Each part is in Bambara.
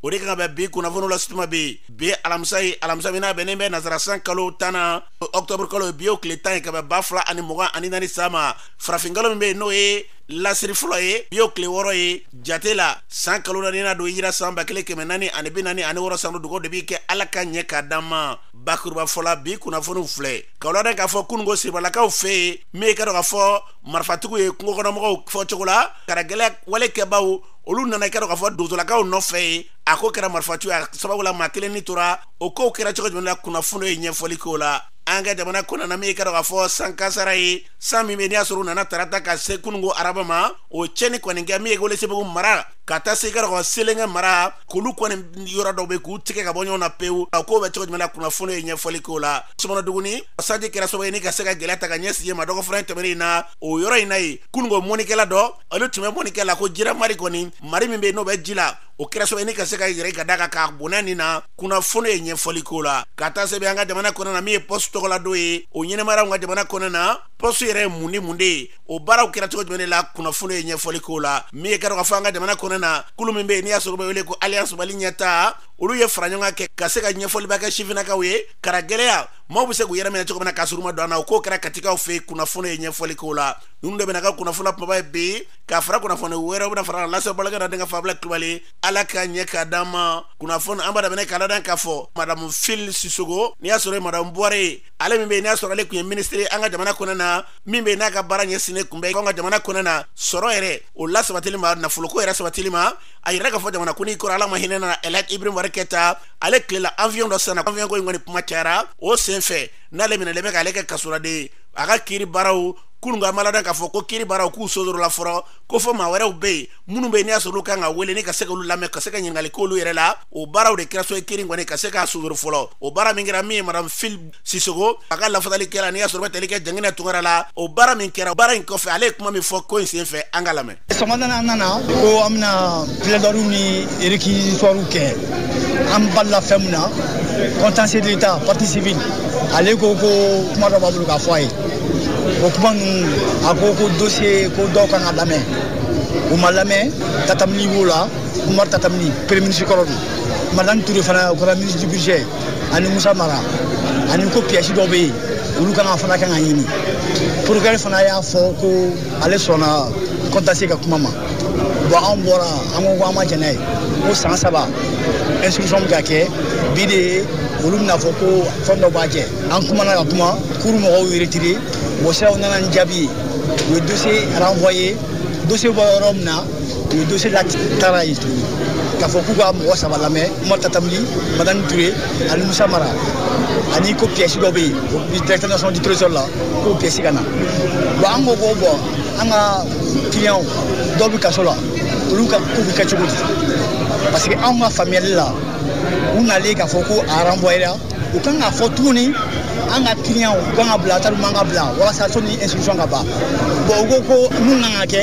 o de kan ka bɛn bi kunnafoniw la sutuma bi bi alamisa ye alamisa min n'a bɛnnen bɛ nasarasan kalo tan na ɔktɔburu kalo ye bi y'o tile tan ye ka bɛn ba fila ani mugan ani naani san ma farafinkalo min bɛ yen n'o ye lasiri fɔlɔ ye bi y'o tile wɔɔrɔ ye jate la san kalo naani na don hijira san ba kelen kɛmɛ naani ani bi naani ani wɔɔrɔ san dugawu de b'i kɛ ala ka ɲɛ k'a d'an ma bakuruba fɔla bi kunnafoniw filɛ k'a ladan k'a fɔ kununko siribalakaw fɛ yen min ye k'a dɔn k'a fɔ marifatigiw ye kungo kɔnɔmɔgɔw fɔ cogo la karagɛlɛ wale kɛbaw olu nana kɛra k'a fɔ donsolakaw nɔfɛ ye a ko kɛra marifaci a sababu la maa kelen ni tora o kow kɛra cogo jumɛn na kunnafoni ye ɲɛfɔli k'o la an ka jamana kɔnɔna min kɛra k'a fɔ san kasara ye san min bɛ n'i y'a sɔrɔ u nana tarata ka se kununko araba ma o cɛni kɔni kɛ min ye welesebugu mara ka taa se kɛra ko selenge mara k'olu kɔni yɔrɔ dɔw bɛ k'u tigɛ ka bɔ ɲɔgɔn na pewu a ko bɛ cogo jumɛn na kunnafoni ye ɲɛfɔli k'o la sɔmɔnɔduguni sanji kɛra sababu ye ni ka se ka gɛlɛya ta ka ɲɛsin ma dɔgɔfura in tɛmɛnen in na o yɔrɔ in na yen kununko mɔnikɛla dɔ olu tun bɛ mɔni kɛ la ko jira mari kɔni mari min bɛ n'o bɛ ji la o kɛra sababu ni ka se ka yɛrɛ ka da kan k'a bɔnɛ a ni na kunnafoni ye ɲɛfɔli k'o la ka taa sɛbɛn an ka jamana kɔnɔ na min ye pɔsi tɔgɔladon ye o ɲɛnamayara an ka jamana kɔnɔ na pɔsi yɛrɛ ye mun ni mun de ye o baaraw kɛra cogo jumɛn de la kunnafoni ye ɲɛfɔli k'o la min ye kɛra k'a fɔ an ka jamana kɔnɔ na kulu min bɛ yen n'i y'a sɔrɔ bɛ wele ko alliance mali ɲɛtaa olu ye faraɲɔgɔnkan kɛ ka se ka ɲɛfɔliba kɛ sifinnakaw ye kara gɛlɛya maaw bɛ se k'u yɛrɛ minɛ cogo min na k'a sɔrɔ u ma don an na o ko kɛra katikaw fɛ yen kunnafoni ye ɲɛfɔli k'o la ninnu de bɛna ka kunnafoni kumaba ye bi ka fara kunnafoni wɛrɛw bɛna fara lase balakɛ na denkɛ fabila kulubali ala ka ɲɛ k'a d'an ma kunnafoni an b'a daminɛ k'a ladan k'a fɔ madamu fili sisoko n'i y'a sɔrɔ ye madamu buware ale min bɛ yen n'i y'a sɔrɔ ale tun ye minisiri an ka jamana kɔnɔ na min bɛ yen n'a ka baara ɲɛsinnen tun bɛ an ka jamana kɔnɔ na sɔrɔ yɛrɛ o lasabatili ma nafoloko yɛrɛ sabatili ma a yɛrɛ k'a fɔ jamanakuntigi kɔrɔ ala ma hinɛ a na ɛlaji ibrahim bubakari keyita ale tile la aviyɔn dɔ sanna aviyɔn ko in kɔni kuma cayara o sen fɛ n'ale minɛlen bɛ k'ale kɛ kasoladen a ka kiri baaraw kununko an b'a ladan k'a fɔ ko kiri baaraw k'u sonsorola fɔlɔ ko fɔ maa wɛrɛw bɛ yen minnu bɛ yen n'i y'a sɔrɔ olu kan ka wele ni ka se k'olu lamɛn ka se ka ɲininkali k'olu yɛrɛ la o baaraw de kɛra sababu ye kiri kɔni ka se k'a sonsoro fɔlɔ o baara min kɛra min ye madame fili sisoko a ka lafasalikɛla n'i y'a sɔrɔ bɛ tali kɛ jangina tunkara la o baara min kɛra baara in kɔfɛ ale ye kuma min fɔ ko in senfɛ an ka lamɛn sɔgɔmada an nana ko an bɛna plaidoirie ni réquisitoire kɛ an balila fɛn min na contentieux de l'état partie civile ale ko ko kuma dɔ b'a bolo k'a fɔ a ye o kuma ninnu a ko ko dossier ko dɔw kan ka lamɛn u ma lamɛn tatam ly b'o la umar tatam ly premier ministre kɔrɔ don madani ture fana o kɛra ministre du budget ani musa mara ani ko piyɛsi dɔw bɛ yen olu kan ka fana kan ka ɲini procureur fana y'a fɔ ko ale sɔnna contentieux ka kuma ma bon an bɔra an ko ko an ma jɛn n'a ye ko san saba instruction bɛ ka kɛ bi de ye olu bɛna a fɔ ko fɛn dɔ b'a jɛ an kumana ka kuma kuru mɔgɔw y'u retirer bon sisan u nana ni jaabi ye u ye dossier renvoyer dossier bɔ yɔrɔ min na u ye dossier la taara ye tuguni k'a fɔ k'u ka mɔgɔ saba lamɛn umar tatam li madani ture ani musa mara ani ko pièce dɔ bɛ yen directeur national du trésor la k'o pièce ka na bon an ko ko bon an ka client dɔw bɛ kaso la olu ka ko bɛ kɛ cogo di parce que anw ka faamuyali la u nalen k'a fɔ ko a renvoyera u kan k'a fɔ tuguni an ka client u kan ka bila tari man ka bila walasa sɔnni instruction ka ban bon u ko ko mun kan ka kɛ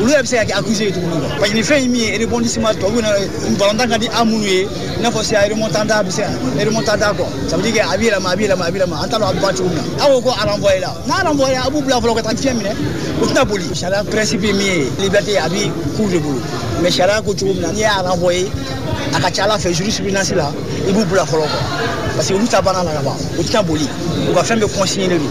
olu yɛrɛ bɛ se ka kɛ accusé ye tuguni quoi parce que nin fɛn in min ye rebondissement tubabuw na balontan ka di an minnu ye i n'a fɔ c'est remontada bɛ se ka remontada quoi ça veut dire que a bɛ yɛlɛma a bɛ yɛlɛma a bɛ yɛlɛma an t'a dɔn a bɛ ban cogo min na aw ko ko a renvoyer la n'a renvoyer la a b'u bila fɔlɔ ka taa fiɲɛ minɛ u tɛna boli sariya principe ye min ye liberté a bɛ cour de bolo mais sariya ko cogo min na n'i y'a renvoyer a ka ca a la fɛ jurisprudence la i b'u bila fɔlɔ quoi parce que olu ta banna la ka ban u tɛna boli u ka fɛn bɛɛ consigné don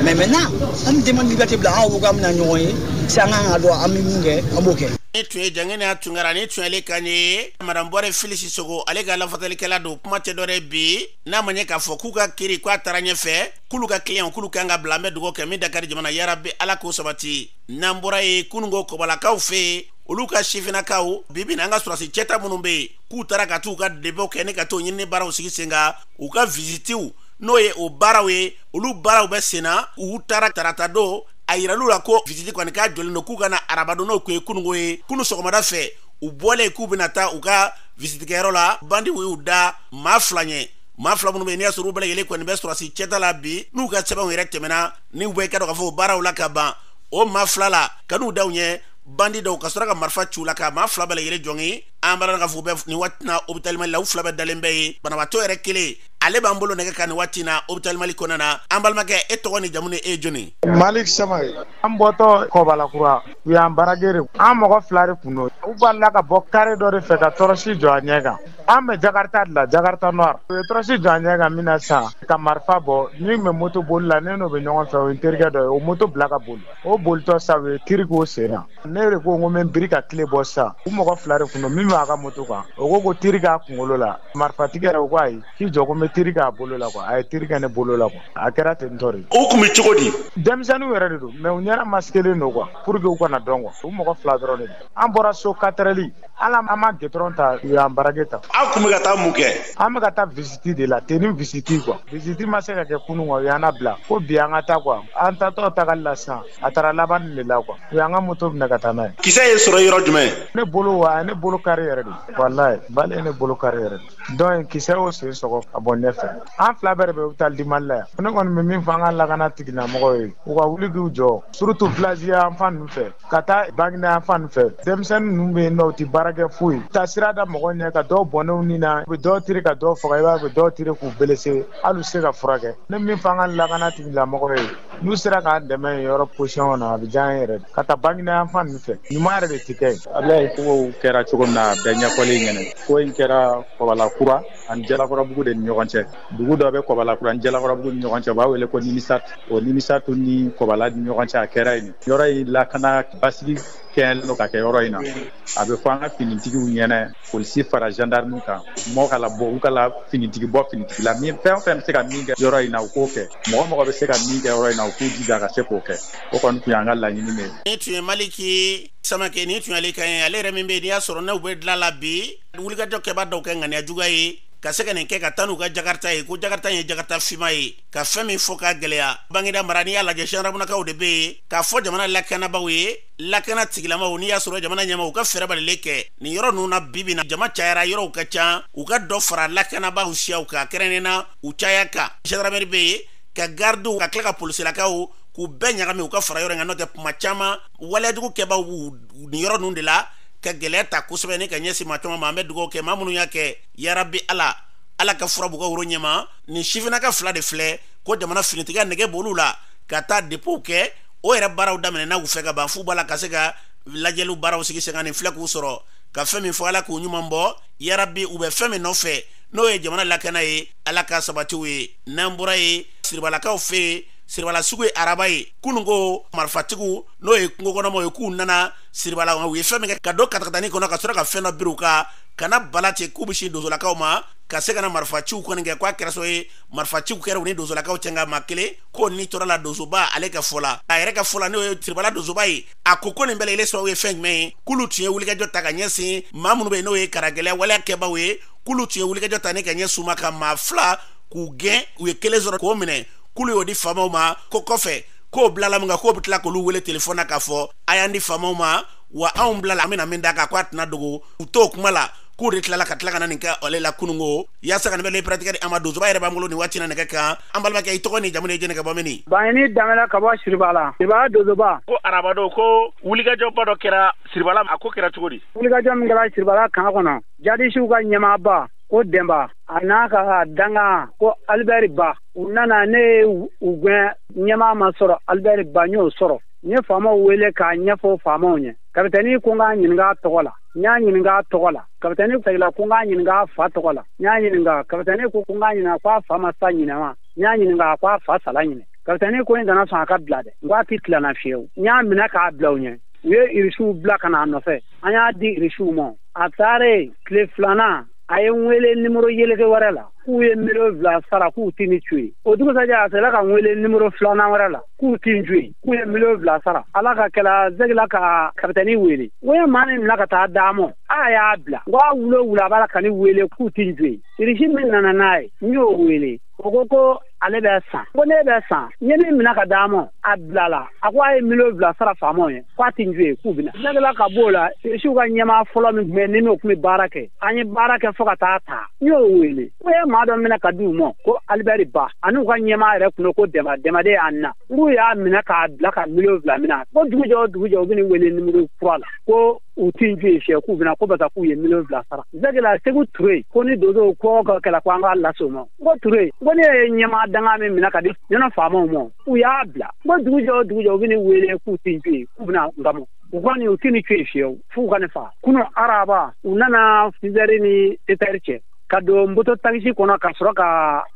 mais maintenant An bɛ demande liberté bila an ko k'an bɛna ɲɔgɔn ye si an kan ka dɔn an bɛ min kɛ an b'o kɛ. Nin tun ye Jangina Tunkara nin tun ale kan ye madame Bɔre Fili Sisoko ale ka lafasalikɛla don kuma tɛ dɔwɛrɛ ye bi n'a ma ɲɛ k'a fɔ k'u ka kiri k'a taara ɲɛfɛ k'olu ka client k'olu kan ka bila an bɛ dugawu kɛ min da ka di jamana yarabi Ala k'o sabati n'an bɔra yen kununko kɔbalakaw fɛ yen olu ka sifinnakaw bi bi in na an ka sɔrɔdasi cɛta minnu bɛ yen k'u taara ka t'u ka dépôt kɛ ni ka t'o ɲinini baaraw sigi sen kan u ka visitew n'o ye o baaraw ye olu baaraw bɛ senna u taara tarata don a yiral'u la ko visiti kɔni k'a jɔlen don k'u ka na araba don n'o tun ye kunungo ye kunu sɔgɔmada fɛ u bɔlen k'u bɛna taa u ka visitikɛyɔrɔ la bandiw y'u da maa fila ɲɛ maa fila minnu bɛ yen n'i y'a sɔrɔ u bɛɛ lajɛlen kɔni bɛ sɔrɔsi cɛta la bi n'u ka sɛbɛnw yɛrɛ tɛmɛna ni u bɛ ka dɔn k'a fɔ o baaraw la ka ban o maa fila la ka n'u da u ɲɛ bandi dɔw ka sɔrɔ ka marifa ci u la ka maa fila bɛɛ lajɛlen jogin an b'a dɔn k'a fɔ u bɛ nin waati na hôpital Mali la u fila bɛɛ dalen bɛ yen banabaatɔ yɛrɛ kelen ale b'an bolo nɛgɛ kan nin waati na hôpital mali kɔnɔna na an balimakɛ e tɔgɔ ni jamu ni e jɔni malik samake an bɔtɔ kɔbalakura u y'an braquer an mɔgɔ fila de kun don u balala ka bɔ kare dɔ de fɛ ka tɔrɔsi jɔ an ɲɛ kan an bɛ jakarta de la jakarta noir u ye tɔrɔsi jɔ an ɲɛ kan min na sisan ka marifa bɔ min bɛ moto boli la ne n'o bɛ ɲɔgɔn fɛ o ye n terikɛ dɔ ye o moto bila ka boli o bolitɔ sa u ye tiri k'o sen na ne yɛrɛ ko ko n bɛ biri ka kile bɔ sisan u mɔgɔ fila de tun don min b'a ka moto kan o ko ko tiri k'a kunkolo la marifatigi yɛrɛ o ko ayi k'i jɔ ko n bɛ tiri k'a bolo la quoi a ye tiri kɛ ne bolo la quoi a kɛra ten tɔ de o tun bɛ cogo di denmisɛnninw yɛrɛ de don mais u ɲɛda masikelen don quoi pour que u kana dɔn kuwa u mɔgɔ fila dɔrɔn de an bɔra so quatre heures la an ma gudɔrɔn ta u y'an braquer ta aw tun bɛ ka taa mun kɛ an bɛ ka taa visiti de la tenue visiti quoi visiti ma se ka kɛ kunun quoi u y'an bila ko bi an ka taa quoi an taatɔ tagali la sisan a taara laban de la kuwa u y'an ka moto minɛ ka taa n'a ye kisɛ y'i sɔrɔ yɔrɔ jumɛn ne bolo wa a ye ne bolo kari yɛrɛ de walayi bale ye ne bolo kari yɛrɛ de donc kisɛ y'o sen sɔgɔ ka bɔ ɲɛfɛ an fila bɛɛ de bɛ hôpital du mali la yan ne kɔni bɛ min fɔ an ka lakana tigilamɔgɔw ye u ka wuli k'u jɔ surutu vilazi yan fan ninnu fɛ ka taa baginda yan fan fɛ denmisɛnnin ninnu bɛ yen nɔ u tɛ baara kɛ foyi taa sira da mɔgɔ ɲɛ ka dɔw bɔnɛ u ni na u bɛ dɔw tiri ka dɔw faga i b'a u bɛ dɔw tiri k'u belese hali u se ka furakɛ ne min fɔ an ka lakana tigilamɔgɔw ye n'u sera k'an dɛmɛ yɔrɔ position na a bɛ diya an yɛrɛ ka taa baginda yan fan ninnu fɛ ɲuman yɛrɛ de tɛ kɛ yen abulayi kow kɛra cogo min na bɛɛ ɲɛfɔli ɲɛna ko in kɛra kɔbala kura ani jalakɔrɔbugu de ni ɲɔgɔn cɛ dugu dɔ bɛ kɔbala kura ni jalakɔrɔbugu ni ɲɔgɔn cɛ u b'a wele ko nimisat o nimisatu ni kɔbala ni ɲɔgɔn cɛ a kɛra yen yɔrɔ in lakana basigi kɛɲɛlen don ka kɛ yɔrɔ in na a bɛ fɔ an ka finitigiw ɲɛna polisi fara gendarme kan mɔgɔ ka labɔ u ka la finitigi bɔ finitigi la min fɛn o fɛn bɛ se ka min kɛ yɔrɔ in na u k'o kɛ mɔgɔ mɔgɔ bɛ se ka min kɛ yɔrɔ in na u k'u jija ka se k'o kɛ o kɔni tun y'an ka laɲini de ye. nin tun ye maliki samake nin tun y'ale kan ye ale yɛrɛ min bɛ yen n'i y'a sɔrɔ n'u bɛ dilan la bi wulikajɔ kɛbaa dɔw kɛ ŋaniya juguya ye ka se ka nin kɛ ka taa n'u ka jakarta ye ko jakarta ye jakarta finman ye ka fɛn min fɔ ka gɛlɛya baginda mara n'i y'a lajɛ zandaramunakaw de bɛ yen k'a fɔ jamana lakanabaaw ye lakana tigilamaw n'i y'a sɔrɔ jamana ɲɛmaaw ka fɛɛrɛ balile kɛ nin yɔrɔ ninnu na bi bi in na jama cayara yɔrɔw ka ca u ka dɔ fara lakanabaaw siyaw kan kɛrɛnnen na u caya kan gendarmerie bɛ yen ka gardiw ka tila ka polisilakaw k'u bɛɛ ɲagami u ka fara yɔrɔ in kan n'o tɛ kuma caman waleyajugu kɛbaaw bɛ nin yɔrɔ ninnu de la ka gɛlɛya ta kosɛbɛ ni ka ɲɛsin maa caman ma an bɛ dugawu kɛ maa minnu y'a kɛ yarabi ala ala ka fura b'u woro ɲɛma nin sifinnaka fila de filɛ ko jamana finitigiya nege b'olu la ka taa dépôt kɛ o yɛrɛ baaraw daminɛna u fɛ ka ban f'u b'a la ka se ka lajɛliw baaraw sigi sen kan nin filɛ k'u sɔrɔ ka fɛn min fɔ ala k'u ɲuman bɔ yarabi u bɛ fɛn min nɔfɛ n'o ye jamana lakana ye ala k'a sabati u ye n'an bɔra yen siribalakaw fɛ yen siribala sugu ye araba ye kunun ko marifatigiw n'o ye kungokɔnɔmaaw ye k'u nana siribala u ye fɛn min kɛ ka don katakatani kɔnɔ ka sɔrɔ ka fɛn dɔ biri u kan ka na bala ten k'u bɛ sin donsolakaw ma ka se ka na marifaciw kɔni kɛ k'a kɛra so ye marifaciw kɛra u ni donsolakaw cɛ nka maa kelen kɔni tora a la donsoba ale ka fɔ la a yɛrɛ ka fɔ la n'o ye siribala donsoba ye a ko ko nin bɛɛ lajɛlen sababu ye fɛn jumɛn ye k'olu tun ye wulikajɔ ta ka ɲɛsin maa minnu bɛ yen n'o ye karagɛlɛya waleya kɛbaaw ye k'olu tun ye wulikajɔ ta ni ka ɲɛsin u ma ka maa fila k'u gɛn u ye kelen sɔrɔ k'o minɛ k'olu y'o di faamaw ma ko kɔfɛ k'o bilala min kan k'o bɛ tila k'olu wele telefɔni na k'a fɔ a y'an di faamaw ma wa anw bilala an bɛna min d'a kan ko a tɛna dogo u t'o kuma la k'u de tilala ka tila ka na nin kɛ ale la kununko yaasa ka nin pereperelatigɛ di an ma donsoba yɛrɛ b'an bolo nin waati na nɛgɛ kan an balimakɛ i tɔgɔ n'i jamu ni jɛnɛ ka bɔ mini bayini danbɛlɛ ka bɔ siribala siribala donsoba ko arabadon ko wulikajɔba dɔ kɛra siribala a ko kɛra cogo di wulikajɔ min kɛra siribala kan kɔnɔ jadisiw ka ɲɛmaaba ko denba a n'a ka dankan ko alibɛri ba u nana ne ye u gɛn ɲɛmaa ma sɔrɔ alibɛri ba n y'o sɔrɔ n ye faamaw wele k'a ɲɛfɔ faamaw ɲɛ kapitɛni ko n k'a ɲininka tɔgɔ la n y'a ɲininka tɔgɔ la kapitɛni segila ko n k'a ɲininka fa tɔgɔ la n y'a ɲininka kapitɛni ko ko n k'a ɲininka ko a fa ma sa ɲinɛma n y'a ɲininka ko a fa sala ɲinɛ kapitɛni ko n kana sɔn a ka bila dɛ n ko a tɛ tila n na fiyewu n y'a minɛ k'a bila u ɲɛ u ye irisiw bila ka n'a nɔfɛ an y'a di irisiw ma a taalen tile filanan a ye n wele nimoro yeleke wɛrɛ la k'u ye miliyɔn fila sara k'u tɛ ni to yen o dugusajɛ a sera ka n wele nimoro filanan wɛrɛ la k'u tɛ n to yen k'u ye miliyɔn fila sara ala ka kɛla segila ka kapitɛni wele ko ye maa min mina ka taa d'a ma a y'a bila ko a wula o wula a b'a la ka ni wele k'u tɛ n to yen irisi min nana n'a ye n y'o wele o ko ko ale bɛ san ko ne bɛ san n ye min minɛ ka d'a ma a bilala a ko a ye miliyɔn fila sara faamaw ye k'a tɛ n to yen k'u bɛna segila ka bɔ o la irisiw ka ɲɛmaa fɔlɔ min tun bɛ ni n'o tun bɛ baara kɛ an ye baara kɛ fo ka taa ta n y'o wele ko ye maa dɔ minɛ ka di u ma ko alibɛri ba ani u ka ɲɛmaa yɛrɛ tun ko denba denba de ye an na n'u y'a minɛ k'a bila ka miliyɔn fila mina ko dugujɛ o dugujɛ u bɛ ni wele nimoro kura la ko u tɛ n to yen fiyewu k'u bɛna ko paseke u ye miliyɔn fila sara segila Seku Ture ye ko ni donsow ko ka kɛlɛ ko an k'a lase o ma n ko Ture n ko ne ye ɲɛmaa dankan min minɛ ka di ɲɔnɔn faamaw ma u y'a bila n ko dugu jɛ o dugu jɛ u bɛ ne wele k'u tɛ n to yen k'u bɛna n kamɔ u kɔni u tɛ ne to yen fiyewu f'u ka ne faga kunun araba u nana sizɛri ni sɛtɛri cɛ ka don moto takisi kɔnɔ ka sɔrɔ ka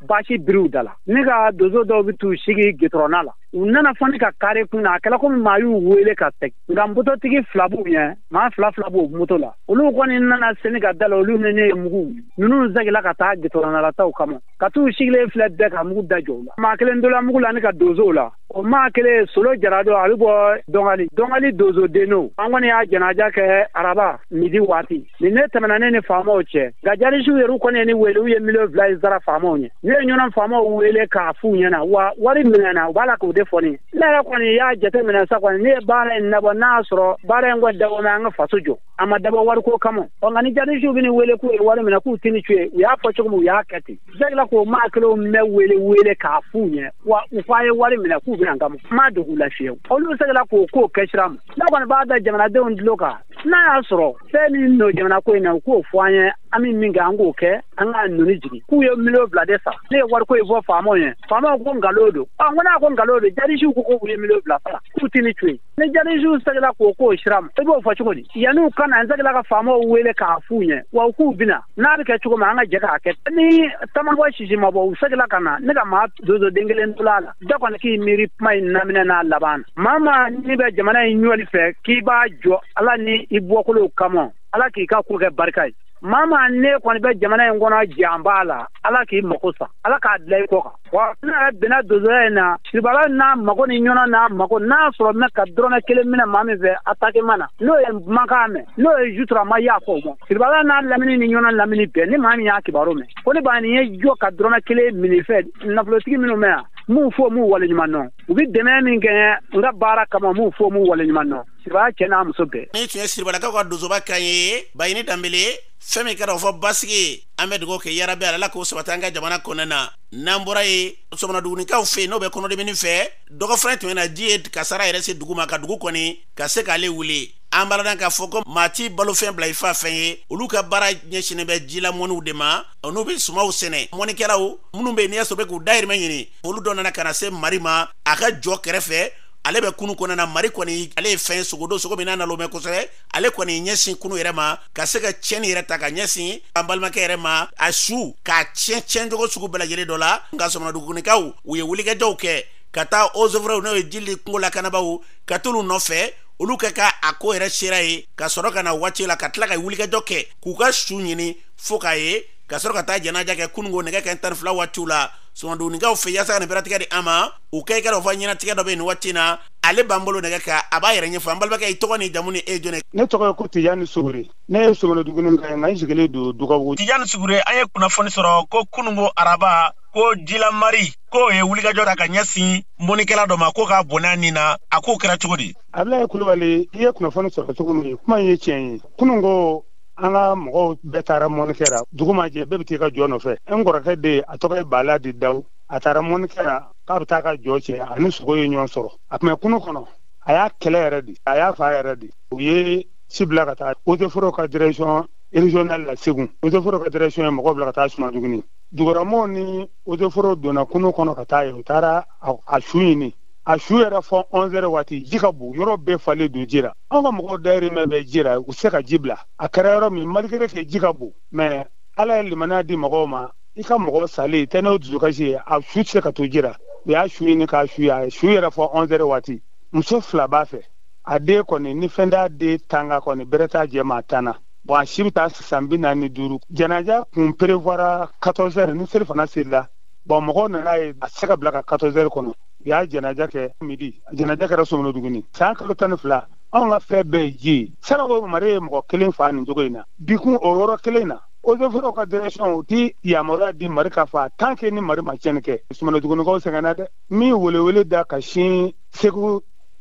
baasi biri u da la ne ka donso dɔw bɛ t'u sigi gitɔrɔn da la u nana fo ne ka kare kun na a kɛra komi maa y'u wele ka segin nka mototigi fila b'u ɲɛ maa fila fila b'o moto la olu kɔni nana se ni ka da la olu ni ne ye mugu ninnu segila ka taa gitɔrɔn da la taw kama ka t'u sigilen filɛ bɛɛ ka mugu da jɔ u la maa kelen tola mugu la ni ka donsow la o maa kelen solo jara don a bɛ bɔ dɔngali dɔngali donsoden don an kɔni y'a janaja kɛ araba midi waati nin de tɛmɛna ne ni faamaw cɛ nka jarisiw yɛrɛ kɔni ye ni wele u ye miliyɔn fila in sara faamaw ɲɛ ne ye ɲɔnɔn faamaw wele k'a f'u ɲɛna wa wari minɛna u b'a la k'o de fɔ ne ne yɛrɛ kɔni y'a jate minɛ sa kɔni ne ye baara in dabɔ n'a y'a sɔrɔ baara in kɔni dabɔ mɛ an ka faso jɔ a ma dabɔ wariko kama ɔ nka ni jarisiw bɛ ni wele k'u ye wari minɛ k'u tɛ ni to yen u y'a fɔ cogo min u y'a kɛ ten segila k'o maa kelenw mɛ wele wele k'a f'u ɲɛ wa u fɔ a ye wari minɛ k'u bɛna n kama n ma dogo u la fiyewu olu segila k'o k'o kɛ sira ma ne kɔni b'a da jamanadenw tulo kan n'a y'a sɔrɔ fɛn min don jamana ko in na u k'o fɔ an ye an bɛ min kɛ an k'o kɛ an k'a nɔni jigin k'u ye miliyɔn fila de sara ne ye wariko in fɔ faamaw ye faamaw ko nkalon don ɔ n ko n'a ko nkalon don jarisiw ko k'u ye miliyɔn fila sara k'u tɛ ni to yen ni jarisiw seginna k'o k'o sira ma i b'o fɔ cogo di yanni u ka na n seginna ka faamaw wele k'a f'u ɲɛ wa u k'u bɛna n'a bɛ kɛ cogo min an ka jɛ k'a kɛ ni ta ma bɔ sisi ma bɔ u seginna ka na ne ka maa donso den kelen tola a la bɛɛ kɔni k'i miiri kuma in daminɛ n'a laban na maa maa ni bɛ jamana in jɔli fɛ k'i b'a jɔ ala ni i bɔkolo kama ala k'i ka ko kɛ barika ye maa maa ni kɔni bɛ jamana in kɔnɔ janba la ala k'i mako sa ala k'a dilan i kɔ kan wa ne yɛrɛ bɛnna donsoya in na siribala n'a mago ni ɲɔnɔ n'a mago n'a sɔrɔ n bɛ ka dɔrɔmɛ kelen minɛ maa min fɛ atakima na n'o ye makan mɛn n'o ye jutura ma y'a fɔ o ma siribala n'a lamini ni ɲɔnɔ lamini bɛɛ ni maa min y'a kibaru mɛn ko ne bayini y'i jɔ ka dɔrɔmɛ kelen minɛ i fɛ nafolotigi minnu bɛ yan m'u fo m'u waleɲuman dɔn u bɛ dɛmɛ min kɛ n ye n ka baara kama m'u fo m'u waleɲuman dɔn siribala cɛ n'a muso bɛɛ nin tun ye siribalakaw ka donsoba kan ye bayini danbele fɛn min kɛra o fɔ basigi an bɛ dugawu kɛ yarabi ala k'o sabati an ka jamana kɔnɔna na n'an bɔra ye sɔmɔnɔdugunikaw fɛ yen n'o bɛ kɔnɔdimini fɛ dɔgɔfrɛ tɛmɛna ji ye kasara yɛrɛ se dugu ma ka dugu kɔni ka se k'ale wuli an b'a dɔn k'a fɔ ko maa t'i balofɛn bila i fa fɛn ye olu ka baara ɲɛsinnen bɛ jila mɔniw de ma n'u bɛ sumaw sɛnɛ mɔnikɛlaw minnu bɛ yen n'i y'a sɔrɔ bɛ k'u dayirimɛ ɲini olu dɔ nana ka na se mari ma a ka jɔ kɛrɛfɛ ale bɛ kunu kɔnɔna na mari kɔni ale ye fɛn sogo don sogo min n'a nalonnen bɛ kosɛbɛ ale kɔni ɲɛsin kunu yɛrɛ ma ka se ka tiɲɛni yɛrɛ ta ka ɲɛsin an balimakɛ yɛrɛ ma a su k'a tiɲɛ tiɲɛ cogo sugu bɛɛ lajɛlen dɔ la nka sɔmɔnɔdugunikaw u ye wulikajɔw kɛ ka taa eaux et forêts n'o ye ji ni kungo lakanabaaw ka t'olu nɔfɛ olu ka ka a ko yɛrɛ sera ye ka sɔrɔ ka na waati la ka tila ka wulikajɔ kɛ k'u ka su ɲini fo k'a ye ka sɔrɔ ka taa janaja kɛ kununko nɛgɛ kanɲɛ tan ni fila waatiw la sɔmɔnɔdugunikaw fɛ yaasa ka nin bɛrɛtigɛ di an ma u kɛ i ka dɔ fɔ ɲɛnatigɛ dɔ bɛ nin waati na ale b'an bolo nɛgɛ kan a b'a yɛrɛ ɲɛfɔ an balimakɛ i tɔgɔ ni jamu ni e jɔn ne tɔgɔ ye ko tijani sugure ne ye sɔmɔnɔdugunika ye nka n sigilen don dugabugu tijani sugure an ye kunnafoni sɔrɔ ko kunungo araba ko jilamari k'o ye wulikajɔ da ka ɲɛsin mɔnikɛla dɔ ma ko k'a bɔnɛ a ni na a k'o kɛra cogo di abulaye kulubali i ye kunnafoni sɔrɔ cogo min kuma in ye tiɲɛ ye kunungo an ka mɔgɔw bɛɛ taara mɔni kɛra dugu ma jɛ bɛɛ bɛ t'i ka jɔ nɔfɛ n kɔrɔkɛ de a tɔgɔ ye bala dit dawu a taara mɔni kɛra k'a bɛ taa ka jɔ cɛ a ni sogo ye ɲɔgɔn sɔrɔ a tun bɛ kunu kɔnɔ a y'a kɛlɛ yɛrɛ de a y'a fa yɛrɛ de u ye ci bila ka taa eaux et forêts ka direction régionale la segu eaux et forêts ka direction ye mɔgɔw bila ka taa sɔmɔnɔduguni duguramɔgɔw ni eaux et forêts donna kunu kɔnɔ ka taa yen u taara a su ɲini a su yera fo 11 heures waati ji ka bon yɔrɔ bɛɛ falen don ji la anw ka mɔgɔw dayirimɛ bɛ ji la u tɛ se ka ji bila a kɛra yɔrɔ min malgré que ji ka bon mais ala ye limaniya di mɔgɔw ma i ka mɔgɔ salen tɛ n'o dusukasi ye a su tɛ se ka to ji la u y'a su ɲini k'a su ye a su yera fo 11 heures waati muso fila b'a fɛ a den kɔni ni fɛn t'a den tanga kɔni bɛrɛ t'a jɛ maa tan na bon a si bɛ taa san bi naani ni duuru janaja kun prévoira 14 heures ni selifana seli la bon mɔgɔw nana ye a tɛ se ka bila ka 14 heures kɔnɔ u y'a janaja kɛ midi janaja kɛra sɔmɔnɔduguni san kalo tan ni fila anw ka fɛn bɛɛ ye ji ye sanako mari ye mɔgɔ kelen fa nin cogo in na bikun o yɔrɔ kelen na eaux et forêts ka direction u tɛ yamaruya di mari ka fa tant que ni mari ma cɛnni kɛ sɔmɔnɔdugunikaw sɛgɛnna dɛ min welewele da ka sin segu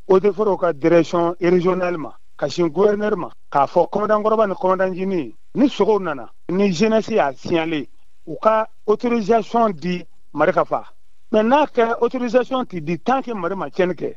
eaux et forêts ka direction régionale ma ka sin gouverneur ma k'a fɔ commandant kɔrɔba ni commandant jini ni sogow nana ni jeunesse y'a signalé u ka autorisation di mari ka fa mais n'a kɛra autorisation tɛ di tant que mari ma cɛnni kɛ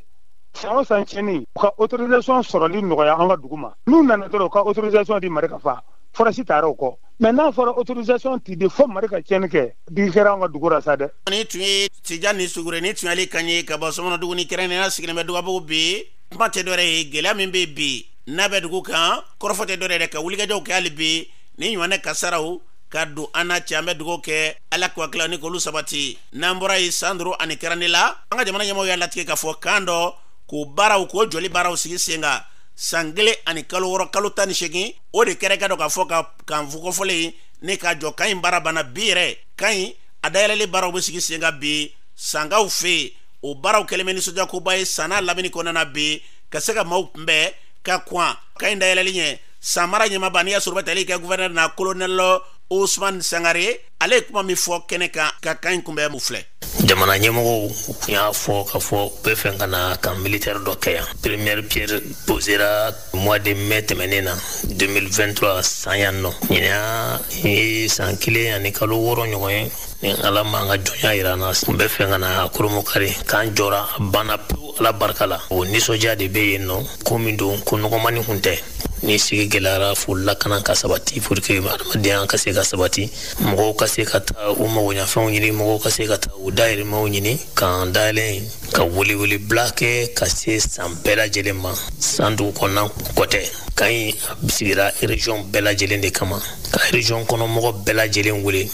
san o san cɛnni u ka autorisation sɔrɔli nɔgɔya an ka dugu ma n'u nana dɔrɔn u ka autorisation di mari ka fa forasi taara o kɔ mais n'a fɔra autorisation ti di fo mari ka tiɲɛni kɛ digi kɛra an ka dugu ra sa dɛ nin tun ye tijani sugure nin tun y'ale kan ye ka bɔ sɔmɔnɔduguni kɛrɛnnenya sigilen bɛ dugabugu bi kuma tɛ dɔwɛrɛ ye gɛlɛya min bɛ bi n'a bɛ dugu kan kɔrɔfɔ tɛ dɔwɛrɛ ye dɛ ka wulikajɔw kɛ hali bi nin ɲɔgɔnna kasaraw ka don an na cɛ an bɛ dugawu kɛ ala k'u hakilila ni k'olu sabati n'an bɔra yen santoro ani karantela an ka jamana ɲɛmɔgɔw y'a latigɛ k'a fɔ kan dɔ k'o baaraw k'o jɔli baaraw sigi sen kan san kelen ani kalo wɔɔrɔ kalo tan ni segin o de kɛra k'a dɔn k'a fɔ ka kan fo kofɔlen nin ka jɔ kan in baara banna bi yɛrɛ kan in a dayɛlɛli baaraw bɛ sigi sen kan bi sankaw fɛ o baaraw kɛlen bɛ nisɔndiyakoba ye san n'a lamini kɔnɔna na bi ka se ka maaw kunbɛn ka kɔn kan in dayɛlɛli ɲɛ san mara ɲɛmaaba n'i y'a sɔrɔ bɛ tali kɛ gouverneur na colonel osumani sangare ale ye kuma min fɔ kɛnɛ kan ka kan in kunbɛn o filɛ jamana ɲɛmɔgɔw y'a fɔ k'a fɔ u b'a fɛ ka na camp militaire dɔ kɛ yan première pierre posera mois de mai tɛmɛnen na 2023 san yan nɔ ɲinan ye san kelen ani kalo wɔɔrɔ ɲɔgɔn ye ni ala m'an ka jɔnya yira an na an b'a fɛ ka na kurunbonkari kan jɔra a banna pewu ala barika la o nisɔndiya de bɛ yen nɔ ko min don ko nɔgɔmani kun tɛ ni sigi gɛlɛyara fo lakana ka sabati pour que adamadenya ka se ka sabati mɔgɔw ka se ka taa u magoɲafɛnw ɲini mɔgɔw ka se ka taa u dahirimɛw ɲini kan dayɛlɛ ka welewele bila kɛ ka se san bɛɛ lajɛlen ma san dugu kɔnɔna ko tɛ kan in a sigira région bɛɛ lajɛlen de kama ka région kɔnɔ mɔgɔ bɛɛ lajɛlen wele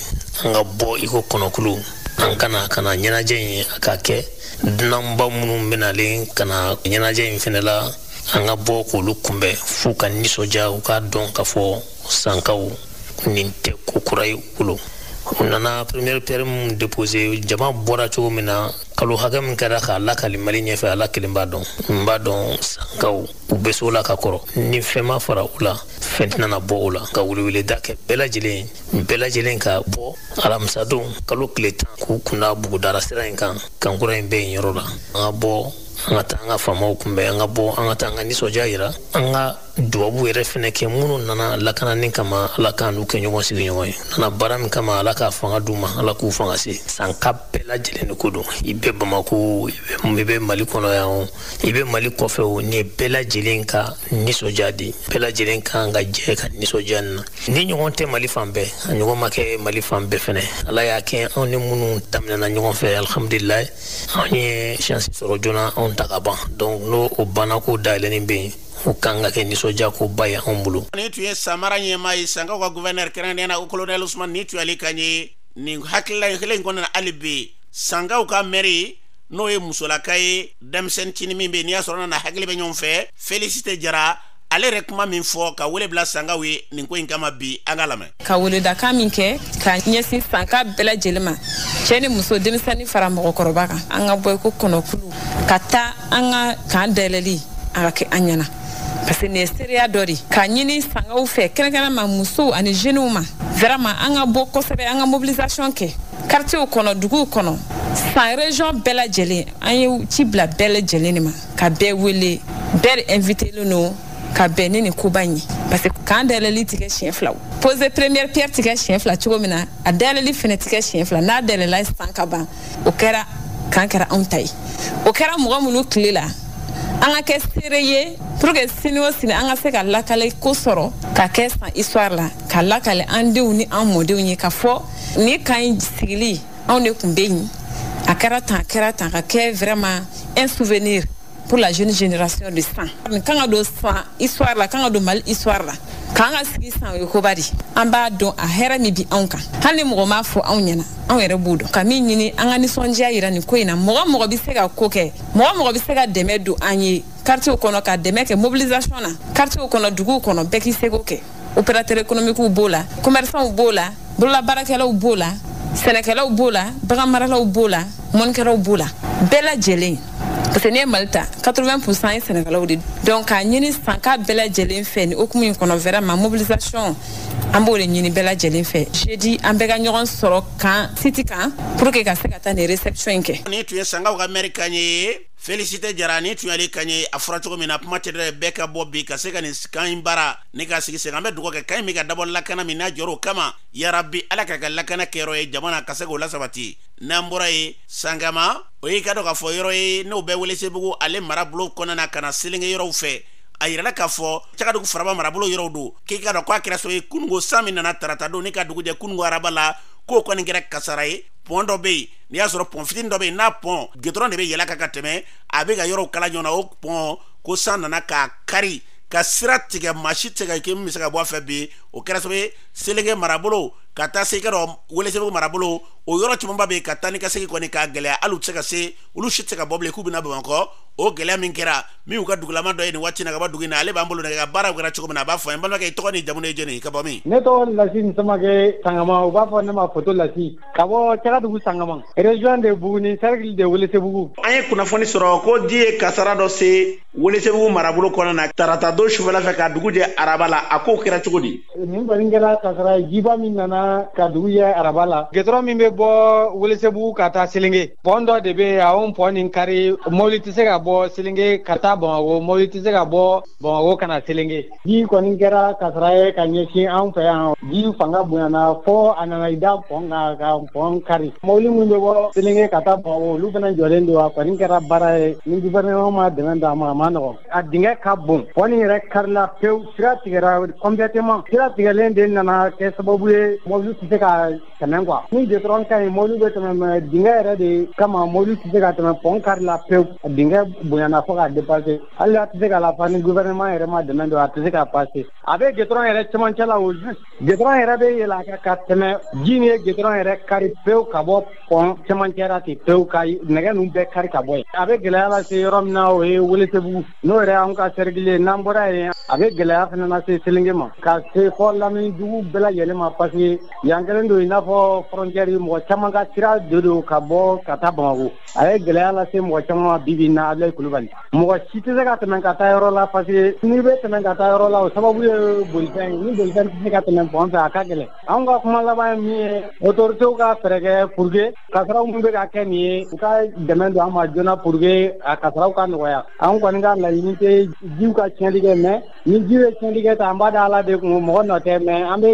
an ka bɔ i ko kɔnɔkulu an ka na ka na ɲɛnajɛ in a ka kɛ dunanba minnu bɛ nalen ka na ɲɛnajɛ in fɛnɛ la an ka bɔ k'olu kunbɛn f'u ka nisɔndiya u k'a dɔn k'a fɔ sankaw nin tɛ ko kura ye u bolo u nana première pierre min déposé jama bɔra cogo min na kalo hakɛ min kɛra k'a lakali mali ɲɛfɛ ala kelen b'a dɔn n b'a dɔn sankaw u bɛ so la ka kɔrɔ ni fɛn ma fara u la fɛn tɛna bɔ o la ka weleweleda kɛ bɛɛ lajɛlen bɛɛ lajɛlen ka bɔ alamisadon kalo tile tan k'u kunda bugudara sira in kan kan kura in bɛ yen yɔrɔ la an ka bɔ an ka taa an ka faamaw kunbɛn an ka bɔ an ka taa an ka nisɔndiya yira an ka dubabu yɛrɛ fɛnɛ kɛ minnu nana lakanani kama ala k'an n'u kɛ ɲɔgɔn sigiɲɔgɔn ye nana baara min kama ala k'a fanga d'u ma ala k'u fanga se sanka bɛɛ lajɛlen de ko don i bɛ bamako i bɛ mali kɔnɔ yan o i bɛ mali kɔfɛ o nin ye bɛɛ lajɛlen ka nisɔndiya de bɛɛ lajɛlen kan ka jɛ ka nisɔndiya nin na nin ɲɔgɔn tɛ mali fan bɛɛ a ɲɔgɔn ma kɛ mali fan bɛɛ fɛnɛ ala y'a kɛ anw ni minnu daminɛna ɲɔgɔn fɛ alhamdulilayi anw ye shansi sɔrɔ joona anw ta ka ban donc n'o o banna k'o dayɛlɛni bɛ yen o kan ka kɛ nisɔndiya koba ye anw bolo nin tun ye san mara ɲɛmaa ye sankaw ka guvɛnɛri kɛrɛnkɛrɛnnenya na o kolonɛli usumani nin tun y'ale kan ye nin hakilila kelen in kɔnɔna hali bi sankaw ka mɛri n'o ye musolaka ye denmisɛnnin cini min bɛ n'i y'a sɔrɔ a n'a hakili bɛ ɲɔgɔn fɛ felisite jara ale yɛrɛ kuma min fɔ ka wele bila sankaw ye nin ko in kama bi an k'a lamɛn ka weledakan min kɛ ka ɲɛsin sanka bɛɛ lajɛlen ma cɛ ni muso denmisɛnnin fara mɔgɔkɔrɔba kan an ka bɔ i ko kɔnɔkulu ka taa an ka kan dayɛlɛli a ka kɛ an ɲɛna parce que nin ye seereya dɔ de k'a ɲini sankaw fɛ kɛrɛnkɛrɛn ma musow ani jeunew ma vraiment an ka bɔ kosɛbɛ an ka mobilisation kɛ kartiyew kɔnɔ duguw kɔnɔ san région bɛɛ lajɛlen an ye ci bila bɛɛ lajɛlen de ma ka bɛɛ wele bɛɛ de invitelen don ka bɛn ni nin koba in ye parce que kan dayɛlɛli tɛ kɛ siɲɛ fila o pose première pierre tɛ kɛ siɲɛ fila cogo min na a dayɛlɛli fɛnɛ tɛ kɛ siɲɛ fila n'a dayɛlɛla san ka ban o kɛra kan kɛra anw ta ye o kɛra mɔgɔ minnu tile la an ka kɛ seere ye pour que sini o sini an ka se k'a lakale k'o sɔrɔ ka kɛ san histoire la k'a lakale an denw ni an mɔdenw ye k'a fɔ nin kan in sigili anw de tun bɛ yen a kɛra tan a kɛra tan ka kɛ vraiment un souvenir pour la jeune génération de san nin kan ka don san histoire la kan ka don mali histoire la kan ka sigi san o ye koba de an b'a dɔn a hɛrɛ min bi anw kan hali ni mɔgɔ m'a fɔ anw ɲɛna anw yɛrɛ b'o dɔn ka min ɲini an ka nisɔndiya yira nin ko in na mɔgɔ o mɔgɔ bɛ se ka ko kɛ mɔgɔ o mɔgɔ bɛ se ka dɛmɛ don an ye kartiyew kɔnɔ ka dɛmɛ kɛ mobilisation na kartiyew kɔnɔ duguw kɔnɔ bɛɛ k'i seko kɛ opérateur économiquew b'o la commerçantw b'o la bololabaarakɛlaw b'o la sɛnɛkɛlaw b'o la baganmaralaw b'o la mɔnikɛlaw b'o la bɛɛ lajɛlen parce que n'i ye mali ta 80 pourcent ye sɛnɛkɛlaw de donc k'a ɲini sanka bɛɛ lajɛlen fɛ nin commune in kɔnɔ vraiment mobilisation an b'o de ɲini bɛɛ lajɛlen fɛ jeudi an bɛɛ ka ɲɔgɔn sɔrɔ kan siti kan pour que ka se ka taa nin réception in kɛ nin tun ye sankaw ka mɛri kan ye felisite jara nin tun y'ale kan ye a fɔra cogo min na kuma tɛ dɛ bɛɛ ka bɔ bi ka se ka nin kan in baara nin k'a sigi sen kan an bɛ dugawu kɛ kan in min ka dabɔ lakana min n'a jɔr'o kama yarabi ala k'a kɛ lakana kɛyɔrɔ ye jamana ka se k'o lasabati n'an bɔra yen sangama o y'i k'a dɔn k'a fɔ yɔrɔ ye n'o bɛ welesebugu ale marabolo kɔnɔna na ka na selenge yɔrɔw fɛ a yirala k'a fɔ cagadugu faraba marabolo yɔrɔw don k'i k'a dɔn ko a kɛra so ye kunungo san min nana tarata don in ka dugu jɛ kunungo araba la k'o kɔni kɛra kasaara ye pɔn dɔ bɛ yen n'i y'a sɔrɔ pɔn fitini dɔ bɛ yen n'a pɔn gidɔrɔn de bɛ yɛlɛ a kan ka tɛmɛ a bɛ ka yɔrɔw kala ɲɔgɔn na o pɔn ko san nana k'a kari ka sira tigɛ maa si tɛ ka kɛ min bɛ se ka bɔ a fɛ bi o kɛra sababu ye selenge marabolo ka taa se i k'a dɔn welesebugu marabolo o yɔrɔ camanba bɛ yen ka taa ni ka segin kɔni k'a gɛlɛya hali u tɛ se ka se olu si tɛ se ka bɔ bilen k'u bɛna bamakɔ o gɛlɛya min kɛra min y'u ka dugulamaa dɔ ye nin waati na ka bɔ dugu in na ale b'an bolo nɛgɛ kan baaraw kɛra cogo min na a b'a fɔ an balimakɛ i tɔgɔ ni jamu ye jɔni ka bɔ min ne tɔgɔ lasine samakɛ sangama u b'a fɔ ne ma foto lasi ka bɔ cagadugu sangama région de buguni cercle de welesebugu an ye kunnafoni sɔrɔ ko ji ye kasara dɔ se welesebugu marabolo kɔnɔ na tarata don sufɛla fɛ ka dugu jɛ araba la a ko kɛra cogo di nin kɔni kɛra kasara ye jiba min nana ka dugu jɛ araba la gidɔrɔn min bɛ bɔ welesebugu ka taa selenge pɔn dɔ de bɛ yen a y'o pɔn nin kari mobili tɛ se ka bɔ selenge ka taa bamako mobili tɛ se ka bɔ bamako ka na selenge Ji kɔni kɛra kasara ye ka ɲɛsin an fɛ yan ji fanga bonyana fɔ a nana i da pɔn kan ka pɔn kari mɔbili minnu bɛ bɔ Selenge ka taa Bamakɔ olu fana jɔlen don a kɔni kɛra baara ye ni gouvernement ma dɛmɛ d'a ma a man nɔgɔ a dingɛ ka bon pɔn nin yɛrɛ karila pewu sira tigɛra complètement sira tigɛlen de nana kɛ sababu ye mɔbili tɛ se ka tɛmɛ quoi ni gidɔrɔn ka ɲi mɔbili bɛ tɛmɛ mais dingɛ yɛrɛ de kama mɔbili tɛ se ka tɛmɛ pɔn karila pewu a dingɛ bonyana fɔ ka dépasser hali a tɛ se ka lafa ni gouvernement yɛrɛ ma dɛmɛ don a tɛ se ka passer a bɛ goudron yɛrɛ cɛmancɛ la au juste goudron yɛrɛ bɛ yɛlɛ a kan ka tɛmɛ ji nin ye goudron yɛrɛ kari pewu ka bɔ pont cɛmancɛ la ten pewu ka nɛgɛ ninnu bɛɛ kari ka bɔ yen a bɛ gɛlɛya lase yɔrɔ min na o ye Welesebugu n'o yɛrɛ y'anw ka cercle ye n'an bɔra yen a bɛ gɛlɛya fana lase Selenge ma ka se fɔ lamini dugu bɛɛ lajɛlen ma parce que yan kɛlen don i n'a fɔ frontière mɔgɔ caman ka sira de don ka bɔ ka taa Bamakɔ a ye gɛlɛya lase mɔgɔ caman ma bi bi in na Abilaye Kulubali mɔgɔ si tɛ se ka tɛmɛ ka taa yɔrɔ la parce que n'i bɛ tɛmɛ ka taa yɔrɔ la o sababu ye bolifɛn ye ni bolifɛn tɛ se ka tɛmɛ pont fɛ a ka gɛlɛn anw ka kuma laban ye min ye autorités ka fɛɛrɛ kɛ pour que kasaraw min bɛ ka kɛ nin ye u ka dɛmɛ don an ma joona pour que a kasaraw ka nɔgɔya anw kɔni ka laɲini tɛ jiw ka tiɲɛli kɛ mais ni ji ye tiɲɛli kɛ tan an b'a da ala de kun mɔgɔ nɔ tɛ mais an bɛ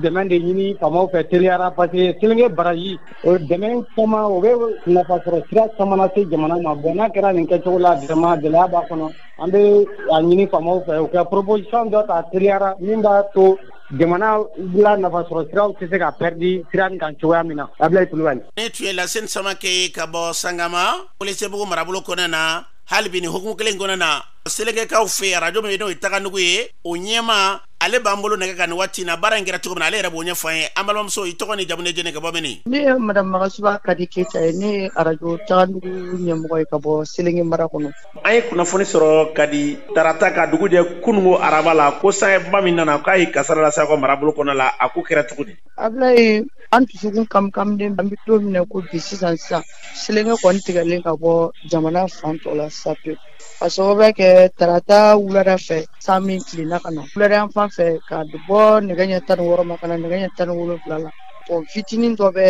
dɛmɛ de ɲini faamaw fɛ teliya ra parce que selenge barrage O dɛmɛ caman o bɛ nafa sɔrɔ sira caman lase jamana ma bon n'a kɛra nin kɛcogo la vraiment gɛlɛya b'a kɔnɔ an bɛ a ɲini faamaw fɛ u ka proposition dɔ ta teliya ra min b'a to jamana la nafa sɔrɔ siraw tɛ se ka pɛridi sira nin kan cogoya min na Abilaye Kulubali. Nin tun ye Laseni Samake ye ka bɔ Sangama Welesebugu marabolo kɔnɔna na hali bi nin hukumu kelen in kɔnɔna na Selengekaw fɛ yen arajo min n'o ye Taganugu ye o ɲɛmaa ale b'an bolo nɛgɛ kan nin waati na baara in kɛra cogo min na ale yɛrɛ b'o ɲɛfɔ an ye an balimamuso i tɔgɔ n'i jamu n'e jɔni ka bɔ mini ne ye madame magasuba kadi keyita ye ne ye arajo tagandugu ɲɛmɔgɔ ye ka bɔ selenge mara kɔnɔ an ye kunnafoni sɔrɔ kadi tarata ka dugu jɛ kunungo araba la ko sanjiba min nana k'a ye kasara lase aw ka marabolo kɔnɔ la a ko kɛra cogo di ablaye an dusukun kamikamilen an bɛ don min na ko bi sisan sisan selenge kɔni tigɛlen ka bɔ jamana fan tɔ la sa pewu ka sababu kɛ tarata wulada fɛ san min tilenna ka na wulada yan fan fɛ ka bɔ nɛgɛ ɲɛ tan ni wɔɔrɔ ma ka na nɛgɛ ɲɛ tan ni wolonwula la pɔn fitinin dɔ bɛ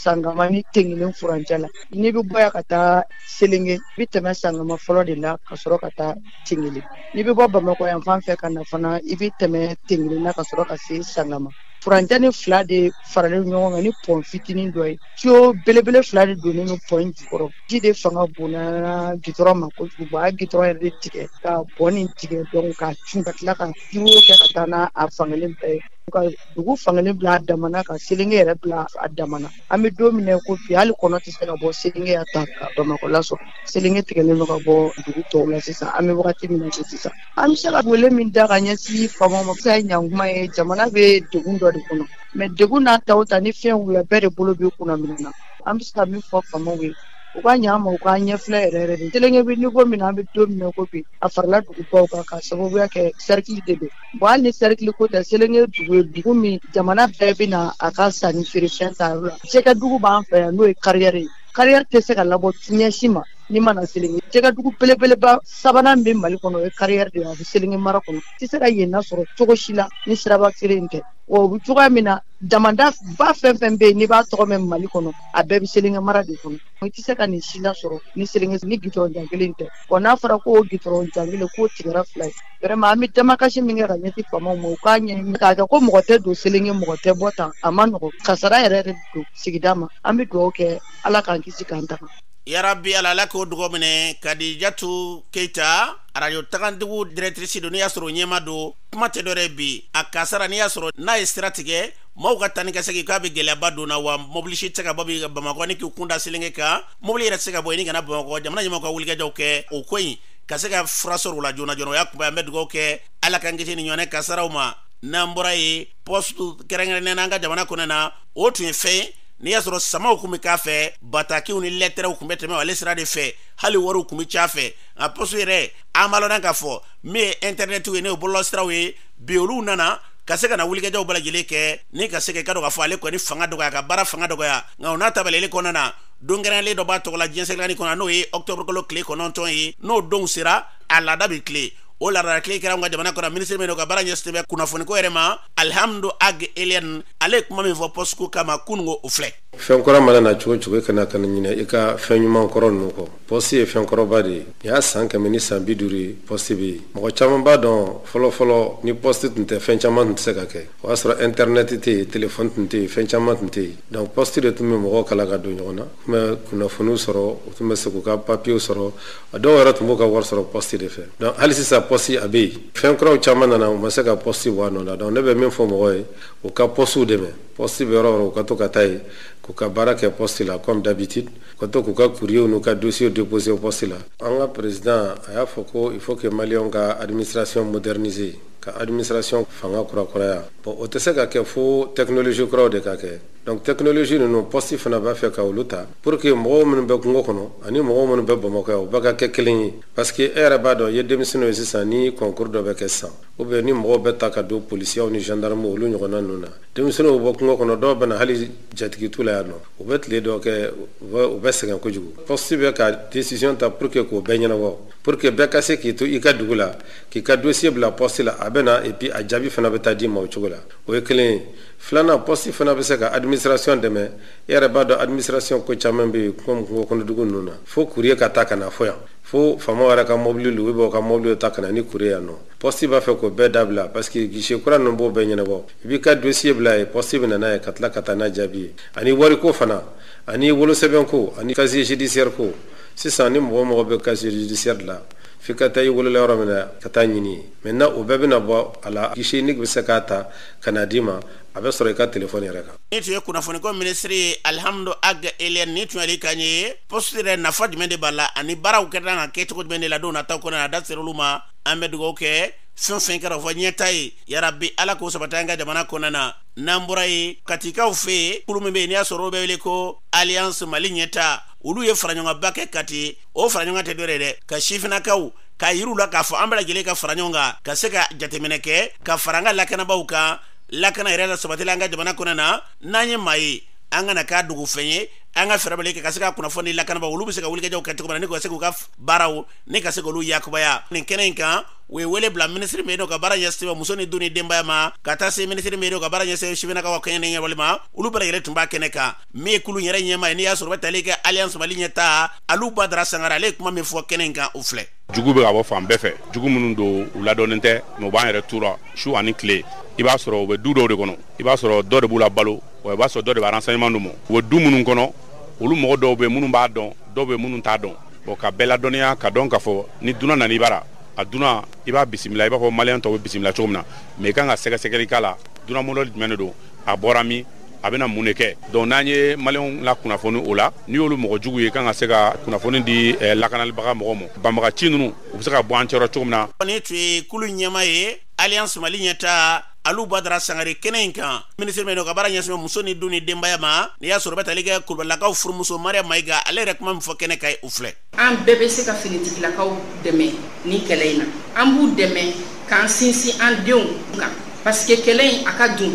sangama ni tengelen furancɛ la n'i bɛ bɔ yan ka taa selenge i bɛ tɛmɛ sangama fɔlɔ de la ka sɔrɔ ka taa tengelen n'i bɛ bɔ bamakɔ yan fan fɛ ka na fana i bɛ tɛmɛ tengelen na ka sɔrɔ ka se sangama furancɛ nin fila de faralen ɲɔgɔn kan ni pɔn fitinin dɔ ye tiyo belebele fila de donnen don pɔn in jukɔrɔ ji de fanga bonyana gitɔrɔn ma kojugu a ye gitɔrɔn yɛrɛ de tigɛ ka pɔn nin tigɛ donc ka cun ka tila ka ji kɛ ka taa n'a fankelen bɛɛ ye ka dugu fankelen bila a damana ka selenge yɛrɛ bila a damana an bɛ don min na ko bi hali kɔnɔ tɛ se ka bɔ selenge yan tan ka bamakɔ lasɔrɔ selenge tigɛlen don ka bɔ dugu tɔw la sisan an bɛ wagati min na sisan an bɛ se ka wele min da ka ɲɛsin faamaw ma fisa ye ɲankuma ye jamana bɛ degun dɔ de kɔnɔ mais degun n'a ta o ta ni fɛn wulila bɛɛ de bolo bɛ kunna minnu na an bɛ se ka min fɔ faamaw ye u ka ɲa ma u ka ɲɛfilɛ yɛrɛ yɛrɛ de selenge bɛ niveau min na an bɛ don min na ko bi a farala dugubaw kan ka sababuya kɛ sɛrikili de don bon hali ni sɛrikili ko tɛ selenge dugu ye dugu min jamana bɛɛ bɛ na a ka sanni feerefɛn ta yɔrɔ la jɛgɛ dugu b'an fɛ yan n'o ye kariyɛri ye kariyɛri tɛ se ka labɔ ɲɛ si ma n'i ma na selenge jɛgɛ dugu belebeleba sabanan bɛ mali kɔnɔ o ye kariyɛri de ye a bɛ selenge mara kɔnɔ tɛ se ka yen nasɔrɔ cogo si la ni siraba kelen in tɛ wa o bɛ cogoya min na damandaba fɛn fɛn bɛ yen n'i b'a tɔgɔ mɛn mali kɔnɔ a bɛɛ bɛ selenge mara de kɔnɔ i tɛ se ka nin si lasɔrɔ ni selenge nin gitɔrɔn jan kelen tɛ wa n'a fɔra ko gitɔrɔn jan kelen k'o tigɛra fila ye vraiment an bɛ damakasi min kɛ ka ɲɛsin faamaw ma u k'a ɲɛɲini k'a kɛ ko mɔgɔ tɛ don selenge mɔgɔ tɛ bɔ tan a man nɔgɔ kasara yɛrɛ yɛrɛ don sigida ma an bɛ dugawu kɛ ala k'an kisi k'an tanga yarabi ala ala k'o dugaw minɛ kadijatu keyita arajo tagandugu directrice don n'i y'a sɔrɔ o ɲɛma don kuma tɛ dɔrɔn bi a kasara n'i y'a sɔrɔ n'a ye sira tigɛ maaw ka taa ni ka segin k'a bɛ gɛlɛyaba don na wa mobili si tɛ ka bɔ bi bamakɔ ni k'i kunda selenge kan mobili yɛrɛ tɛ se ka bɔ yenni ka na bamakɔ jamana ɲɛmɔgɔ ka wulikajɔw kɛ o ko in ka se ka fura sɔrɔ u la joona joona o y'a kunba ye an bɛ dugawu kɛ ala k'an kisi nin ɲɔgɔnna kasaraw ma n'an bɔra yen pɔsitu kɛrɛnkɛrɛnnen na an ka jamana kɔnɔ na o tun ye fɛn n'i y'a sɔrɔ samaw tun bɛ k'a fɛ batakiw ni lɛtɛrɛw tun bɛ tɛmɛ ale sira de fɛ hali wariw tun bɛ c'a fɛ nka pɔsu yɛrɛ an b'a lɔn k'a fɔ min ye intɛrɛnɛtiw ye n'o ye bɔlɔlɔsiraw ye bi olu nana ka se ka na wulikajɔw bɛɛ lajɛlen kɛ ni ka se ka i k'a dɔn k'a fɔ ale kɔni fanga dɔgɔya ka baara fanga dɔgɔya nka o n'a tabaleli kɔnɔna na don kɛrɛnlen dɔ b'a tɔgɔ la diɲɛ seleke naani kɔnɔ n'o ye octobre kalo tile kɔnɔntɔn ye n'o donw sera a laada bɛ tilen o laada latilen kɛra an ka jamana kɔnɔ minisiri min don ka baara ɲɛsinnen bɛ kunnafoniko yɛrɛ ma alihamdu ag eliɛn ale ye kuma min fɔ pɔsiko kama kununko o filɛ fɛn kura mana na cogo o cogo i kana kana ɲinɛ i ka fɛn ɲuman kɔrɔ ninnu kɔ pɔsi ye fɛn kɔrɔba de ye nin y'a san kɛmɛ ni san bi duuru ye pɔsi bɛ yen mɔgɔ caman b'a dɔn fɔlɔfɔlɔ ni pɔsi tun tɛ fɛn caman tun tɛ se ka kɛ o y'a sɔrɔ intɛrɛnɛti tɛ yen telefɔni tun tɛ yen fɛn caman tun tɛ yen donc pɔsi de tun bɛ mɔgɔw kala ka don ɲɔgɔn na tun bɛ kunnafoniw sɔrɔ u tun bɛ se k'u ka papiyew sɔrɔ a dɔw yɛrɛ tun b'u ka wari sɔrɔ pɔsi de fɛ donc hali sisan pɔsi a bɛ yen fɛn kuraw caman nana u ma se ka pɔsi bɔ a nɔ la donc ne bɛ min fɔ mɔgɔw ye u ka pɔsiw dɛmɛ pɔsi bɛ yɔrɔ o yɔrɔ u ka to ka taa yen k'u ka baara kɛ pɔsi la comme d'habitude ka to k'u ka courrier n'u ka dossier déposer poste la an ka président a y'a fɔ ko il faut que maliyɛnw ka administration moderniser ka administration fanga kurakuraya bon o tɛ se ka kɛ fo technologie kuraw de ka kɛ donc technologie ninnu poste fana b'a fɛ ka olu ta pour que mɔgɔw minnu bɛ kungo kɔnɔ ani mɔgɔw minnu bɛ bamakɔ yan u bɛɛ ka kɛ kelen ye parce que e yɛrɛ b'a dɔn i ye denmisɛnninw ye sisan ni concours dɔ bɛ kɛ sisan ou bien ni mɔgɔw bɛ ta ka don policierw ni gendarmew olu ɲɔgɔnna ninnu na denmisɛnninw bɛ bɔ kungo kɔnɔ dɔw bɛ na hali jatigi t'u la yan nɔ u bɛ tile dɔ kɛ u bɛ sɛgɛn kojugu pɔsi bɛ ka décision ta pour que k'o bɛɛ ɲɛnabɔ pour que bɛɛ ka se k'i to i ka dugu la k'i ka dossier bila pɔsi la a bɛ na et puis a jaabi fana bɛ taa d'i ma o cogo la o ye kelen filanan pɔsi fana bɛ se ka administration dɛmɛ e yɛrɛ b'a dɔn administration ko caman bɛ yen kungokɔnɔdugu ninnu na fo courrier ka taa ka na fo yan fo faama yɛrɛ ka mɔbili u b'u ka mɔbili ta ka na ni courrier ye yan nɔ pɔsi b'a fɛ k'o bɛɛ dabila parce que guichet kura ninnu b'o bɛɛ ɲɛnabɔ i b'i ka dossier bila yen pɔsi bɛ n'a ye ka tila ka taa n'a jaabi ye ani wariko fana ani wolosɛbɛn ko ani casier judiciaire ko sisan ni mɔgɔ mako bɛ casier judiciaire la f'i ka taa i wolola yɔrɔ min na ka taa a ɲini yen maintenant o bɛɛ bɛna bɔ a la guichet unique bɛ se k'a ta ka n'a d'i ma a bɛ sɔrɔ i ka telefɔni yɛrɛ kan nin tun ye kunnafoniko minisiri ye alihamudu ag eliɛn nin tun y'ale kan ye poste yɛrɛ nafa jumɛn de b'a la ani baaraw kɛta ka kɛ cogo jumɛn de la don nataw kɔnɔ a da ser'olu ma an bɛ dugawu kɛ fɛn o fɛn kɛra o fɔ ɲɛtaa ye yarabi ala k'o sabati an ka jamana kɔnɔna na n'an bɔra yen katikaw fɛ yen kulu min bɛ yen n'i y'a sɔrɔ o bɛ wele ko alliance mali ɲɛtaa olu ye faraɲɔgɔnkanba kɛ kati o faraɲɔgɔnkan tɛ dɔ wɛrɛ ye dɛ ka sifinakaw k'a yira u la k'a fɔ an bɛɛ lajɛlen ka fara ɲɔgɔn kan ka se ka jateminɛ kɛ ka fara an ka lakanabaaw kan lakana yɛrɛ lasabatili la an ka jamana kɔnɔ na n'an ye maa ye an kan'a kɛ dogo fɛn ye an ka fɛɛrɛ bali kɛ ka se ka kunnafoni lakanabaaw olu bɛ se ka wulikajɔw kɛ cogo min na ni ka se k'u ka baaraw ni ka se k'olu yakubaya nin kɛnɛ in kan u ye wele bila minisiri min ka baara ɲɛsin bɛ muso ni du ni denbaya ma ka taa se minisiri min ka baara ɲɛsin bɛ sifinakaw ka koɲɛ ɲɛnabɔli ma olu bɛɛ lajɛlen tun b'a kɛnɛ kan min ye kulu yɛrɛ ɲɛmaa ye n'i y'a sɔrɔ bɛ tali kɛ alliance mali ɲɛtaa alu badara sangara ale ye kuma min fɔ kɛnɛ in kan u filɛ jugu bɛ ka bɔ fan bɛɛ fɛ jugu minnu don u ladɔnnen tɛ mais u b'an yɛrɛ tura su ani tile i b'a sɔrɔ u bɛ du dɔw de kɔnɔ i b'a sɔrɔ dɔ de b'u labalo wa i b'a sɔrɔ dɔ de bɛ renseignement d'u ma u bɛ du minnu kɔnɔ olu mɔgɔ dɔw bɛ minnu b'a dɔn dɔw bɛ minnu t'a dɔn Bon ka bɛɛ ladɔnniya k'a dɔn k'a fɔ ni dunan nana i bara, a dunan i b'a bisimila i b'a fɔ maliyɛn tɔw bɛ bisimila cogo min na mais i ka kan ka sɛgɛsɛgɛli k'a la dunan modèle jumɛn de don, a bɔra min, a bɛna mun de kɛ donc n'an ye maliyɛnw lakunnafoni o la, n'i y'olu mɔgɔ jugu ye i ka kan ka se ka kunnafoni di lakanalibaga mɔgɔw ma, banbagaci ninnu u bɛ se ka bɔ an cɛ rɔ cogo min na. Nin tun ye kulu ɲɛmaa ye Alliance Mali ɲɛtaa Aliou Badara Sangare kɛnɛ in kan minisiri min n'o ka baara ɲɛsin bɛ muso ni du ni denbaya ma n'i y'a sɔrɔ bɛ tali kɛ Kulubalilakaw furumuso Mariam Mayiga ale yɛrɛ kuma min fɔ kɛnɛ kan u filɛ. An bɛɛ bɛ se ka finitigilakaw dɛmɛ ni kɛlɛ in na an b'u dɛmɛ k'an sinsin an denw kan parce que kɛlɛ in a ka dun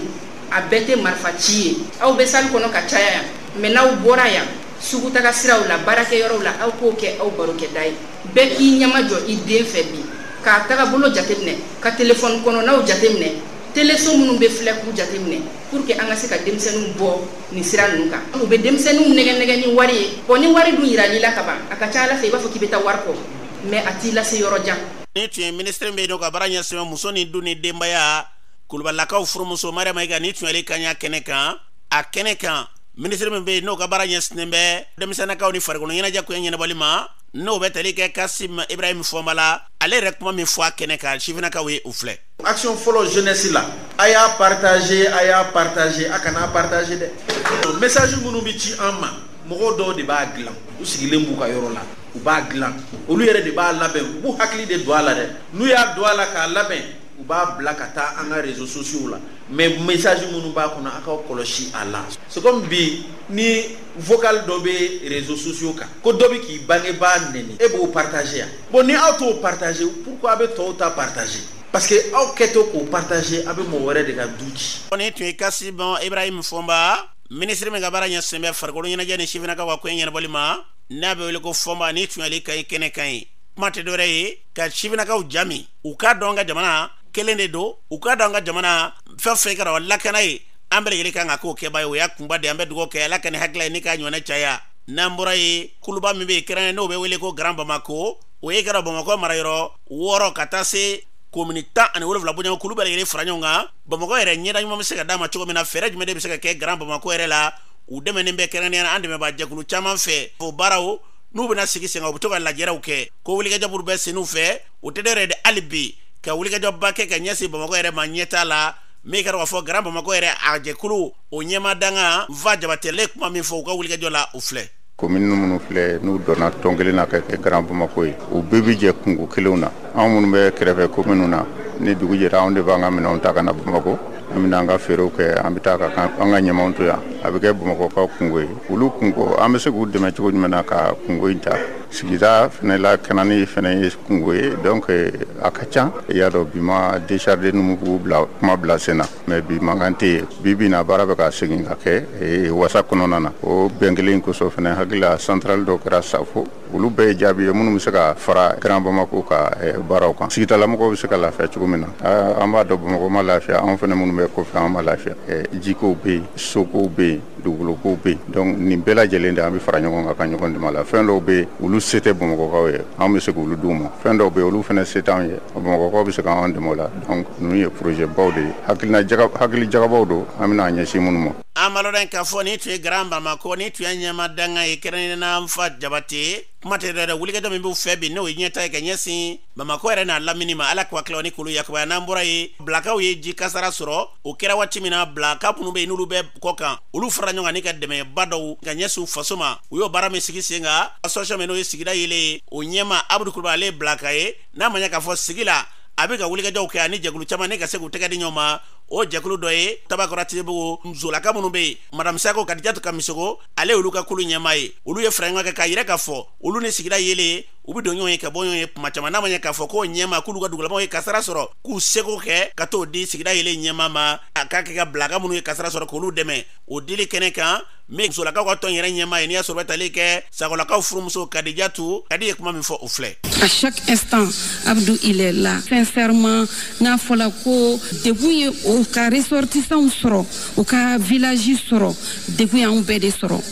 a bɛɛ tɛ marifa ci ye aw bɛ salle kɔnɔ ka caya yan mais n'aw bɔra yan sugutaga siraw la baarakɛyɔrɔw la aw k'o kɛ aw barokɛda ye. bɛɛ k'i ɲɛmajɔ i den fɛ bi k'a tagabolo jateminɛ ka telefɔni kɔnɔnaw jateminɛ teleso minnu bɛ filɛ k'u jateminɛ pour que an ka se ka denmisɛnninw bɔ nin sira ninnu kan u bɛ denmisɛnninw nɛgɛnɛgɛ ni wari ye bɔn ni wari dun yirala i la ka ban a ka ca a la fɛ i b'a fɔ k'i bɛ taa wari kɔ mais a t'i lase yɔrɔ jan nin tun ye minisiri min bɛ yen n'o ka baara ɲɛsin bɛ muso ni du ni denbaya kulubalakaw furumuso mariyamu mayiga nin tun y'ale kan y'a kɛnɛ kan a kɛnɛ kan minisiri min bɛ yen n'o ka baara ɲɛsinnen bɛ denmisɛnnakaw ni farikolo ɲɛnajɛ ko ɲɛnabɔli ma n'o bɛ tali kɛ kasim ibrahim fɔnba la ale yɛrɛ kuma min fɔ a kɛnɛ kan sifinakaw ye u filɛ action fɔlɔ jeunesse la a y'a partager a y'a partager a kan'a partager dɛ message minnu bɛ ci an ma mɔgɔ dɔw de b'a dilan u sigilen b'u ka yɔrɔ la u b'a dilan olu yɛrɛ de b'a labɛn u b'u hakili de don a la dɛ n'u y'a don a la k'a labɛn u b'a bila ka taa an ka réseaux sociaux la mais message minnu b'a kɔnɔ a k'aw kɔlɔsi a la c'est comme bi ni vocal dɔ bɛ réseaux sociaux kan ko dɔ bɛ k'i bangebaa nɛni e b'o partager yan bon ni aw t'o partager pourquoi a bɛ tɔw ta partager parce que aw kɛtɔ k'o partager a bɛ mɔgɔ wɛrɛ de ka du ci. nin tun ye kasim bɔn ibrahim fɔnba minisiri min ka baara ɲɛsinnen bɛ farikolo ɲɛnajɛ ni sifinnakaw ka koɲɛ ɲɛnabɔli ma n'a bɛ wele ko fɔnba nin tun y'ale kan ye kɛnɛ kan ye kuma tɛ dɔwɛrɛ ye ka sifinnakaw jami u k'a dɔn an ka jamana kelen de don u k'a dɔn ka jamana fɛn fɛn kɛra lakana ye an bɛɛ lajɛlen kan ka k'o kɛba ye o y'a kunba de an bɛ dugawu kɛ ala ka nin hakilila ye ni k'a ɲɔgɔnna caya n'an bɔra yen kuluba min bɛ yen kɛrɛnkɛrɛnnen n'o bɛ wele ko grand bamako o ye kɛra bamakɔ marayɔrɔ wɔɔrɔ ka taa se komini tan ani wolonwula bonya kulu bɛɛ lajɛlen fara ɲɔgɔn kan bamakɔ yɛrɛ ɲɛda ɲuman bɛ se ka d'a ma cogo min na fɛɛrɛ jumɛn de bɛ se ka kɛ grand bamakɔ yɛrɛ la u dɛmɛnen bɛ kɛrɛnkɛrɛnnenya la an dɛmɛbaa jɛkulu caman fɛ o baaraw n'u bɛna sigi sen kan u bɛ to ka lajɛrew kɛ ko wulikajɔ minnu bɛ sen u fɛ o tɛ dɔ yɛrɛ de hali bi ka wulikajɔba kɛ ka ɲɛsin bamakɔ yɛrɛ ma ɲɛtaa la min kɛra k'a fɔ grand bamakɔ yɛrɛ a jɛkulu o ɲɛmaa dankan fa jabate ye kuma min fɔ u ka wulikajɔ la o filɛ komini minnu filɛ n'u donna tɔn kelen na ka kɛ grand bamakɔ ye u bɛɛ bi jɛ kunko kelenw na anw minnu bɛ kɛrɛfɛ kominiw na ni dugu jɛra anw de b'an ka minɛnw ta ka na bamakɔ an bɛna an ka feerew kɛ an bɛ taa ka an ka ɲamanw to yan a bɛ kɛ bamakɔkaw kunko ye olu kunko an bɛ se k'u dɛmɛ cogo jumɛn na ka kunko in ta sigida fana lakanani fana ye kunko ye donc eh, a ka ca i y'a dɔn bi ma décharge numubugu bila kuma bila sen na mais bi mankan tɛ yen bi bi in na baara bɛ ka segin ka kɛ eh, wasa kɔnɔna na o bɛn kelen in kosɔn fana hakili la centrale dɔ kɛra safo olu bɛɛ ye jaabi ye minnu bɛ se ka fara grand bamako ka eh, baaraw kan sigidalamɔgɔw bɛ se ka lafiya cogo min na ah, an b'a dɔn bamakɔ ma lafiya anw fana minnu bɛ kɔfɛ an ma lafiya jikow bɛ yen sokow bɛ yen dugukolokow bɛ yen donc nin bɛɛ lajɛlen de an bɛ fara ɲɔgɔn kan ka ɲɔgɔn dɛmɛ la fɛn dɔw bɛ yen olu se tɛ bamakɔkaw ye an bɛ se k'olu d'u ma fɛn dɔw bɛ yen olu fana se t'anw ye bamakɔkaw bɛ se k'anw dɛmɛ o la donc ninnu ye projet baw de ye hakili jagabɔw don an bɛna an ɲɛsin minnu ma an b'a lɔn de k'a fɔ nin tun ye grand bamako nin tun ye ɲɛmaa dankan ye kɛrɛnkɛrɛnnen an fa jabate kuma tɛ dɔ yɛrɛ de wulikajɔ min b'u fɛ bi n'o ye ɲɛtaa ye ka ɲɛsin bamakɔ yɛrɛ n'a lamini ma ala k'u hakilila ni kulu yakubaya n'an bɔra yen bilakaw ye ji kasara sɔrɔ o kɛra waati min na bilaka minnu bɛ yen n'olu bɛ kɔkan olu fara ɲɔgɔn kan ni ka dɛmɛba dɔw ka ɲɛsin u faso ma u y'o baara min sigi sen kan association min n'o ye sigida yelen ye o ɲɛmaa abudu kulubali ale ye bilaka ye n'a ma ɲɛ k'a fɔ sigi la a bɛ ka wulikajɔw kɛ ani jɛkulu caman ni ka se k'u tɛgɛ di ɲɔgɔn ma o jɛkulu dɔ ye tabakɔrɔ tibugu musolaka minnu bɛ yen madame sako kadijatu kamisoko ale olu ka kulu ɲɛmaa ye olu ye fara ɲɔgɔn kɛ k'a yira k'a fɔ olu ni sigida yelen u bɛ don ɲɔgɔn ye ka bɔ ɲɔgɔn ye kuma caman n'a ma ɲɛ k'a fɔ k'o ɲɛmaa k'olu ka dugulamaw ye kasara sɔrɔ k'u seko kɛ ka t'o di sigida yelen ɲɛmaa ma a k'a kɛ ka bilaka minnu ye kasara sɔrɔ k'olu dɛmɛ o dili kɛnɛ kan min musolakaw ka tɔn yɛrɛ ɲɛmaa ye n'i y'a sɔrɔ bɛ tali kɛ sakolakaw furumuso kadijatu kadi ye kuma min fɔ o filɛ à chaque instant abdu il est là sincèrement n'a fɔla ko degun ye o ka ressortissants sɔrɔ o ka village sɔrɔ degun y'anw bɛɛ de sɔrɔ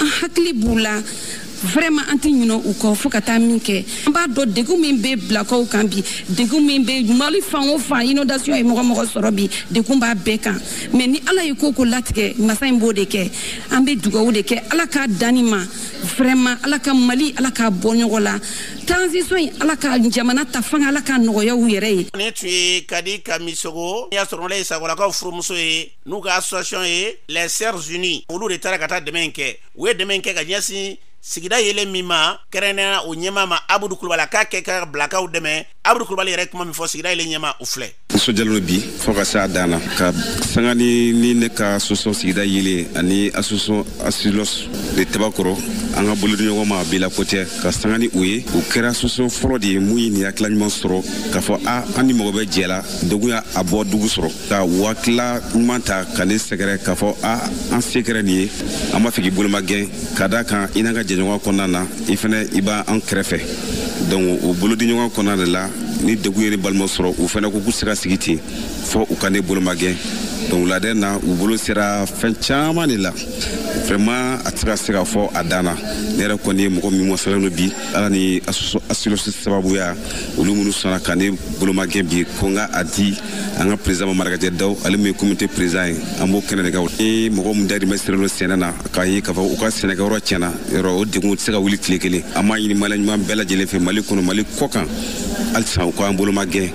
an hakili b'u la vraiment an tɛ ɲinɛ u kɔ fo ka taa min kɛ an b'a dɔn degun min bɛ bilakaw kan bi degun min bɛ mali fan o fan inondation ye mɔgɔ o mɔgɔ sɔrɔ bi degun b'a bɛɛ kan mais ni ala ye ko o ko latigɛ masa in b'o de kɛ an bɛ dugawu de kɛ ala k'a dan nin ma vraiment ala ka mali ala k'a bɔ nɔgɔ la transition in ala ka jamana ta fanga ala ka nɔgɔya u yɛrɛ ye. nin tun ye kadi kamisoko n'i y'a sɔrɔ nin ye sakolakaw furumuso ye n'u ka association ye les sœurs unies olu de taara ka taa dɛmɛ in kɛ u ye dɛmɛ in kɛ ka ɲɛsin sigida yeelen min ma kɛrɛnnenya la o ɲɛmaa ma abudu kulubali a k'a kɛ ka bilakaw dɛmɛ abudu kulubali yɛrɛ kuma min fɔ sigida yeelen ɲɛmaa o filɛ nisɔndiyalen don bi fɔɔ ka se a dan na ka sanga ni ni ne ka association sigida yeelen ani association asilos de tabakɔrɔ an ka bolodiɲɔgɔnma bila ko tɛ ka sanga ni o ye o kɛra association fɔlɔ de ye min ye nin hakila ɲuman sɔrɔ k'a fɔ a an ni mɔgɔ bɛ jɛ la degun y'a bɔ dugu sɔrɔ ka hakila ɲuman ta ka ne sɛgɛrɛ k'a fɔ a an se kɛra nin ye an b'a fɛ k'i bolomagɛn ka da kan i n'an ka jɛɲɔgɔn kɔnɔna na i fɛnɛ i b'an kɛrɛfɛ donc o bolodiɲɔgɔn kɔnɔna de la ni degun ye ne balima sɔrɔ u fɛnɛ ko k'u tɛ se ka sigi ten fɔ u ka ne bolomagɛn donc u ladɛnna u bolo sera fɛn caman de la vraiment a tɛ se ka fɔ a dan na ne yɛrɛ kɔni ye mɔgɔ min wasalen don bi ala ni asilosi sababuya olu minnu sɔnna ka ne bolomagɛn bi ko n ka a di an ka président marakajɛ daw ale min ye comité président ye an b'o kɛnɛ de kan ni mɔgɔ min dayirimɛ sirilen don sɛnɛ na k'a ye k'a fɔ u ka sɛnɛkɛyɔrɔ tiɲɛna yɔrɔ o degun tɛ se ka wuli tile kelen an b'a ɲini maliyɛn ɲuman bɛɛ lajɛlen fɛ mali kɔnɔ mali kɔkan halisa u k'an bolomagɛn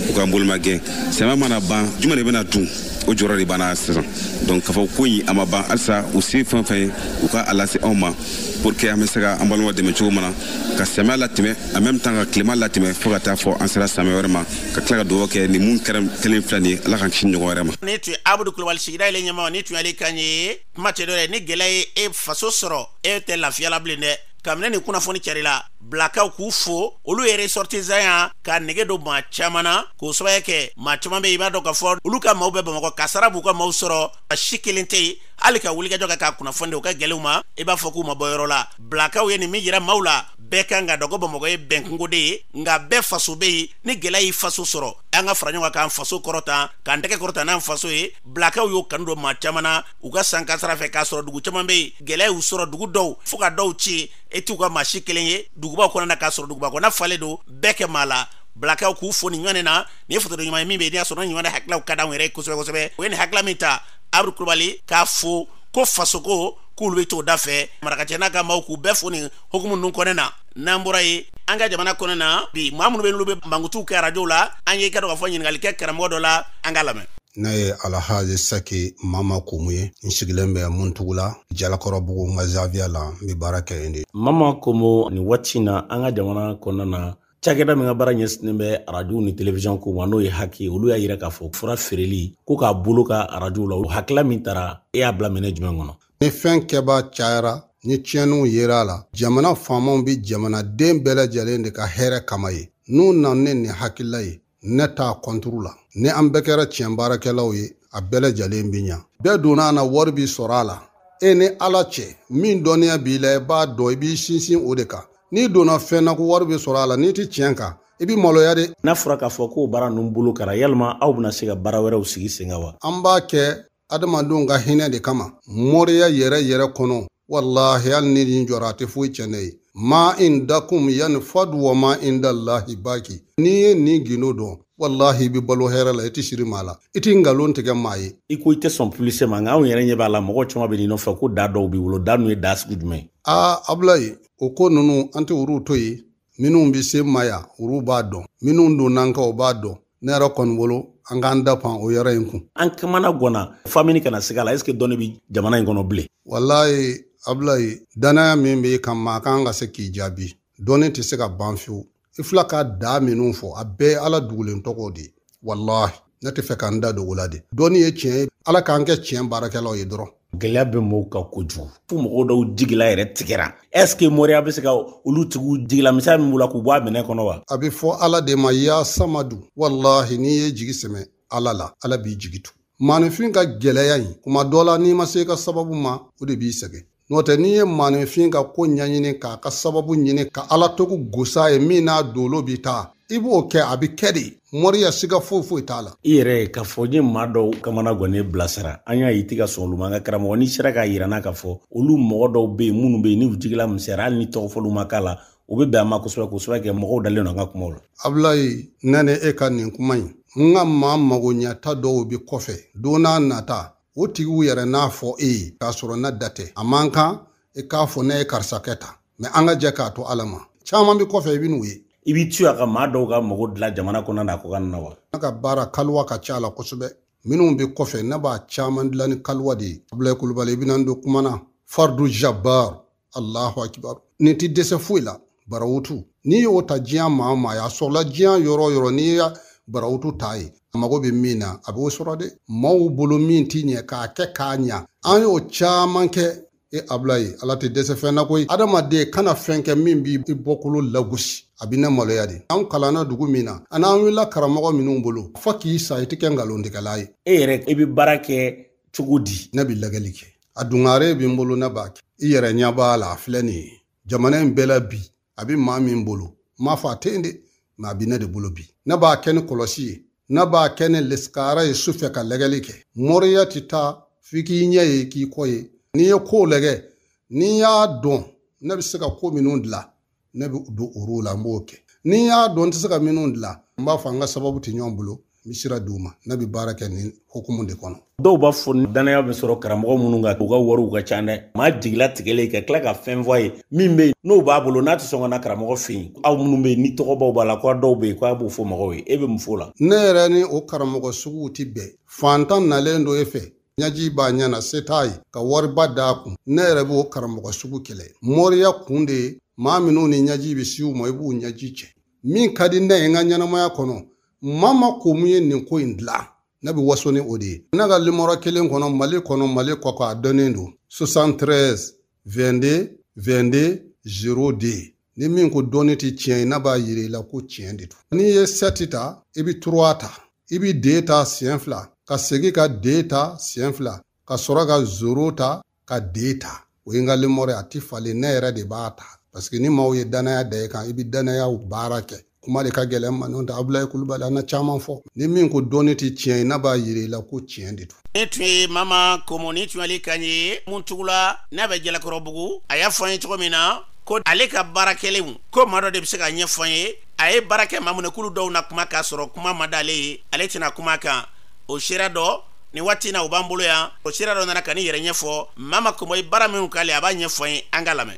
u k'an bolomagɛn samiya mana ban jumɛn de bɛna dun o jɔrɔ de b'an na sisan donc k'a fɔ ko in a ma ban halisa u se fɛn fɛn ye u ka a lase anw ma pour que an bɛ se ka an balima dɛmɛ cogo min na ka samiya latɛmɛ en même temps ka tilema latɛmɛ fo ka taa fɔ an sera samiya wɛrɛ ma ka tila ka dugawu kɛ nin min kɛra kelen filɛ nin ye ala k'an kisi ɲɔgɔn wɛrɛ ma nin tun ye abudu kulubali sigida yeelen ɲɛmaa nin tun y'ale kan ye kuma tɛ dɔ dɛ ni gɛlɛya ye e faso sɔrɔ e tɛ lafiya la bilen dɛ kabini nin kunnafoni carila bilakaw k'u fo olu ye ressortissantya ka nege don maa caman na k'o sababu kɛ maa caman bɛ i b'a dɔn k'a fɔ olu ka maaw bɛ bamakɔ kasaara b'u ka maaw sɔrɔ a si kelen tɛ yen hali ka wulikajɔ kɛ k'a kunnafoni di u ka gɛlɛw ma i b'a fɔ k'u ma bɔ yɔrɔ la bilakaw ye nin min yira maaw la bɛɛ kan k'a dɔn ko bamakɔ ye bɛnkungo de ye nka bɛɛ faso bɛ yen ni gɛlɛya y'i faso sɔrɔ an ka fara ɲɔgɔn kan k'an faso kɔrɔta k'an tɛgɛ kɔrɔta n'an faso ye bilakaw y'o kanu don maa caman na u ka san kasaara fɛ k'a sɔrɔ dugu caman bɛ yen gɛlɛya y'u sɔrɔ dugu dɔw fo ka dɔw ci e t'u ka maa si kelen ye dugubaw kɔnɔna na k'a sɔrɔ duguba kɔnɔna falen don bɛɛ ka maa la bilakaw k'u fo nin ɲɔgɔn na nin ye foto ɲuman ye min bɛ yen n'i y'a sɔrɔ ɲuman hakililaw ka d'anw yɛrɛ ye kosɛbɛ kosɛbɛ o ye nin hakilila min ta abdu kulubali k'a fo ko fasoko k'olu bɛ t'o da fɛ marakacɛ n'a ka maaw k'u bɛɛ fo nin hukumu ninnu kɔnɛ na n'an bɔra yen an ka jamana kɔnɛ na bi maa minnu bɛ n'olu bɛ mankutuw kɛ arajow la an ye i ka dɔ ka fɔ ɲininkali kɛ karamɔgɔ dɔ la an k'a lamɛn ne ye alhaji sɛki mama komu ye n sigilen bɛ muntugu la jalakɔrɔbugu n ka zawiya la n bɛ baara kɛ yen de mama komu nin waati na an ka jamana kɔnɔna na cakɛda min ka baara ɲɛsinnen bɛ arajow ni televisiɔn ko ma n'o ye haki olu y'a yira k'a fɔ fura feereli ko k'a bloquer arajow la o hakila min tara e y'a bila minɛn jumɛn kɔnɔ ni fɛn kɛbaa cayara ni tiɲɛniw yera a la jamana faamaw bɛ jamanaden bɛɛ lajɛlen de ka hɛrɛ kama ye n'u nana ni nin hakilila ye ne t'a kɔnturu la ni an bɛɛ kɛra tiɲɛ baarakɛlaw ye a bɛɛ lajɛlen bɛ ɲa bɛɛ donna a na wari bi sɔrɔ a la e ni ala cɛ min dɔnniya b'i la i b'a dɔn i b'i sinsin o de kan n'i donna fɛn na ko wari bɛ sɔrɔ a la n'i tɛ tiɲɛ kan i bɛ maloya de n'a fɔra k'a fɔ k'o baara ninnu bolokera yalima aw bɛna se ka baara wɛrɛw sigi sen kan wa an b'a kɛ adamadenw ka hinɛ de kama moriya yɛrɛ yɛrɛ kɔnɔ walahi hali ni nin jɔra a tɛ foyi tiɲɛ ne ye ma indakum yanfadu wa ma indalahi baki n'i ye nin gindo dɔn walahi i bɛ balo hɛrɛ la i tɛ siri maa la i tɛ nkalon tigɛ maa ye i ko i tɛ sɔn pibilisite ma nka anw yɛrɛ ɲɛ b'a la mɔgɔ caman bɛ nin nɔfɛ ko da dɔw b'i bolo da ninnu ye da sugu jumɛn ye aa abulayi o ko ninnu an tɛ olu to yen minnu bɛ se ma yan olu b'a dɔn minnu donna n kan o b'a dɔn ne yɛrɛ kɔni bolo an k'an da pan o yɔrɔ in kun an kamana gɔnna f'an bɛ ɲini ka na siga a la ɛseke dɔnni bɛ jamana in kɔnɔ bilen walayi abulayi danaya min b'i kan maa kan ka se k'i jaabi dɔnni tɛ se ka ban fiyewu i filɛ ka daa minnu fɔ a bɛɛ ye ala dugulen tɔgɔ de ye walahi ne t'a fɛ k'an da dogo la de dɔnni ye tiɲɛ ye ala k'an kɛ tiɲɛ baarakɛlaw ye dɔrɔn gɛlɛya bɛ mɔgɔw kan kojugu fo mɔgɔw dɔw jigila yɛrɛ tigɛra ɛske moriya bɛ se ka olu tigiw jigila misɛnya min b'u la k'u bɔ a minɛ kɔnɔ wa a bɛ fɔ ala de ma ya samadu walahi n'i ye jigi sɛmɛ ala la ala b'i jigi tugu maaninfin ka gɛlɛya in kuma dɔ la n'i ma se ka sababu ma o de b'i sɛgɛn N'o tɛ n'i ye maaninfin ka ko ɲɛɲini k'a ka sababu ɲini ka ala tɔgɔ gosi a ye min n'a dolo bɛ taa i b'o kɛ a bɛ kɛ de moriya siga foyi foyi t'a la i yɛrɛ ye k'a fɔ n ye maa dɔw kamana gɔnnen bilasira an y'a ye i tɛ ka sɔn olu ma nka karamɔgɔ n'i sera k'a yira n na k'a fɔ olu mɔgɔ dɔw bɛ yen minnu bɛ yen n'u jigila misɛnyara hali ni tɔgɔ fɔliw ma k'a la o bɛ bɛn a ma kosɛbɛ kosɛbɛ kɛ mɔgɔw dalen don an ka kumaw la abulayi ne ni e ka nin kuma in n ka maa magoɲɛta dɔw bɛ kɔfɛ don n'a nata o tigiw yɛrɛ n'a fɔ e ye k'a sɔrɔ ne da tɛ a man kan i k'a fɔ ne ye karisa kɛ tan mɛ an ka jɛ k'a to ala ma caman bɛ kɔfɛ i bɛ n'u ye i b'i to yan ka maa dɔw ka mago dilan jamana kɔnɔ n'a kɔkan na wa ne ka baara kaliwa ka ca a la kosɛbɛ minnu bɛ kɔfɛ ne b'a caman dilan ni kaliwa de ye abulayi kulubali i bɛna n don kuma na fardu jabar allahu akibaru nin ti dɛsɛ foyi la barawutu n'i y'o ta diɲɛ maa maa y'a sɔrɔla diɲɛ yɔrɔ yɔrɔ n'i ye barawutu ta ye a mago bɛ min na a b'o sɔrɔ dɛ maaw bolo min ti ɲɛ k'a kɛ k'a ɲa an y'o caman kɛ e abulayi ala tɛ dɛsɛ fɛn na koyi adamaden kana fɛn kɛ min b'i bɔkolo lagosi a bɛ ne maloya de an kalanna dugu min na ani an wulila karamɔgɔ minnu bolo fo k'i sa i tɛ kɛ nkalontigɛla ye e yɛrɛ i bɛ baara kɛ cogo di ne bɛ lajɛli kɛ a dungare bɛ n bolo ne b'a kɛ i yɛrɛ ɲɛ b'a la a filɛ nin ye jamana in bɛɛ la bi a bɛ maa min bolo n m'a fɔ a tɛ yen dɛ mɛ a bɛ ne de bolo bi ne b'a kɛ ni kolosi ye ne b'a kɛ ni lesikara ye su fɛ ka lɛgɛli kɛ mɔriya tɛ taa f'i k'i ɲɛ ye k'i kɔ ye n'i ye kow lɛgɛ n'i y'a dɔn ne bɛ se ka ko minnu dilan ne bɛ don olu la n b'o kɛ ni n y'a dɔn n tɛ se ka minnu dilan n b'a fɔ an ka sababu tɛ ɲɔgɔn bolo n bɛ sira d'u ma ne bɛ baara kɛ nin hukumu de kɔnɔ dɔw b'a fɔ dannaya bɛ sɔrɔ karamɔgɔ minnu kan u ka wariw ka ca dɛ maa jigilatigɛlen ka tila ka fɛn fɔ a ye min bɛ yen n'o b'a bolo n'a tɛ sɔn ka na karamɔgɔ fɛ yen aw minnu bɛ yen ni tɔgɔbaw b'a la ko dɔw bɛ yen ko a b'o fɔ mɔgɔw ye e bɛ mun fɔ o la ne yɛrɛ ni o karamɔgɔ suguw tɛ bɛn fantan nalen don e fɛ ɲaji b'a ɲɛ na se t'a ye ka wariba d'a kun ne yɛrɛ b'o karamɔgɔ sugu kɛlɛ mɔriya kun de ye maa minnu ni ɲaji bɛ se u ma i b'u ɲaji cɛ min ka di ne ye n ka ɲɛnamaya kɔnɔ mama komo ye nin ko in dilan ne bɛ waso ni o de ye ne ka limɔrɔ kelen kɔnɔ mali kɔnɔ mali kɔkan a dɔnnen don 73 22 22 0 de ni min ko dɔnni tɛ tiɲɛ ye ne b'a yira i la ko tiɲɛ de don n'i ye sɛti ta i bɛ turuwa ta i bɛ de ta siɲɛ fila ka segin ka de ta siɲɛ fila ka sɔrɔ ka zoro ta ka de ta o ye n ka limɔrɔ ye a tɛ falen ne yɛrɛ de b'a ta paseke ni maaw ye dannaya da i kan i bɛ dannayaw baara kɛ kuma de ka gɛlɛn n ma n'o tɛ abulayi kulubali an na caman fɔ ni min ko dɔnni tɛ tiɲɛ ye ne b'a yira i la ko tiɲɛ de don nin tun ye mama komo nin tun y'ale kan ye muntugula n'a bɛ jalakɔrɔbugu a y'a fɔ an ye cogo min na ko ale ka baara kɛlenw ko maa dɔ de bɛ se k'a ɲɛfɔ an ye a ye baara kɛ maa minnu ye k'olu dɔw na kuma k'a sɔrɔ kuma ma d'ale ye ale tɛna kuma kan o seere dɔ nin waati na u b'an bolo yan o seere dɔ nana ka nin yɛrɛ ɲɛfɔ mama komo ye baara minnu k'ale a b'a ɲɛfɔ an ye an k'a lamɛn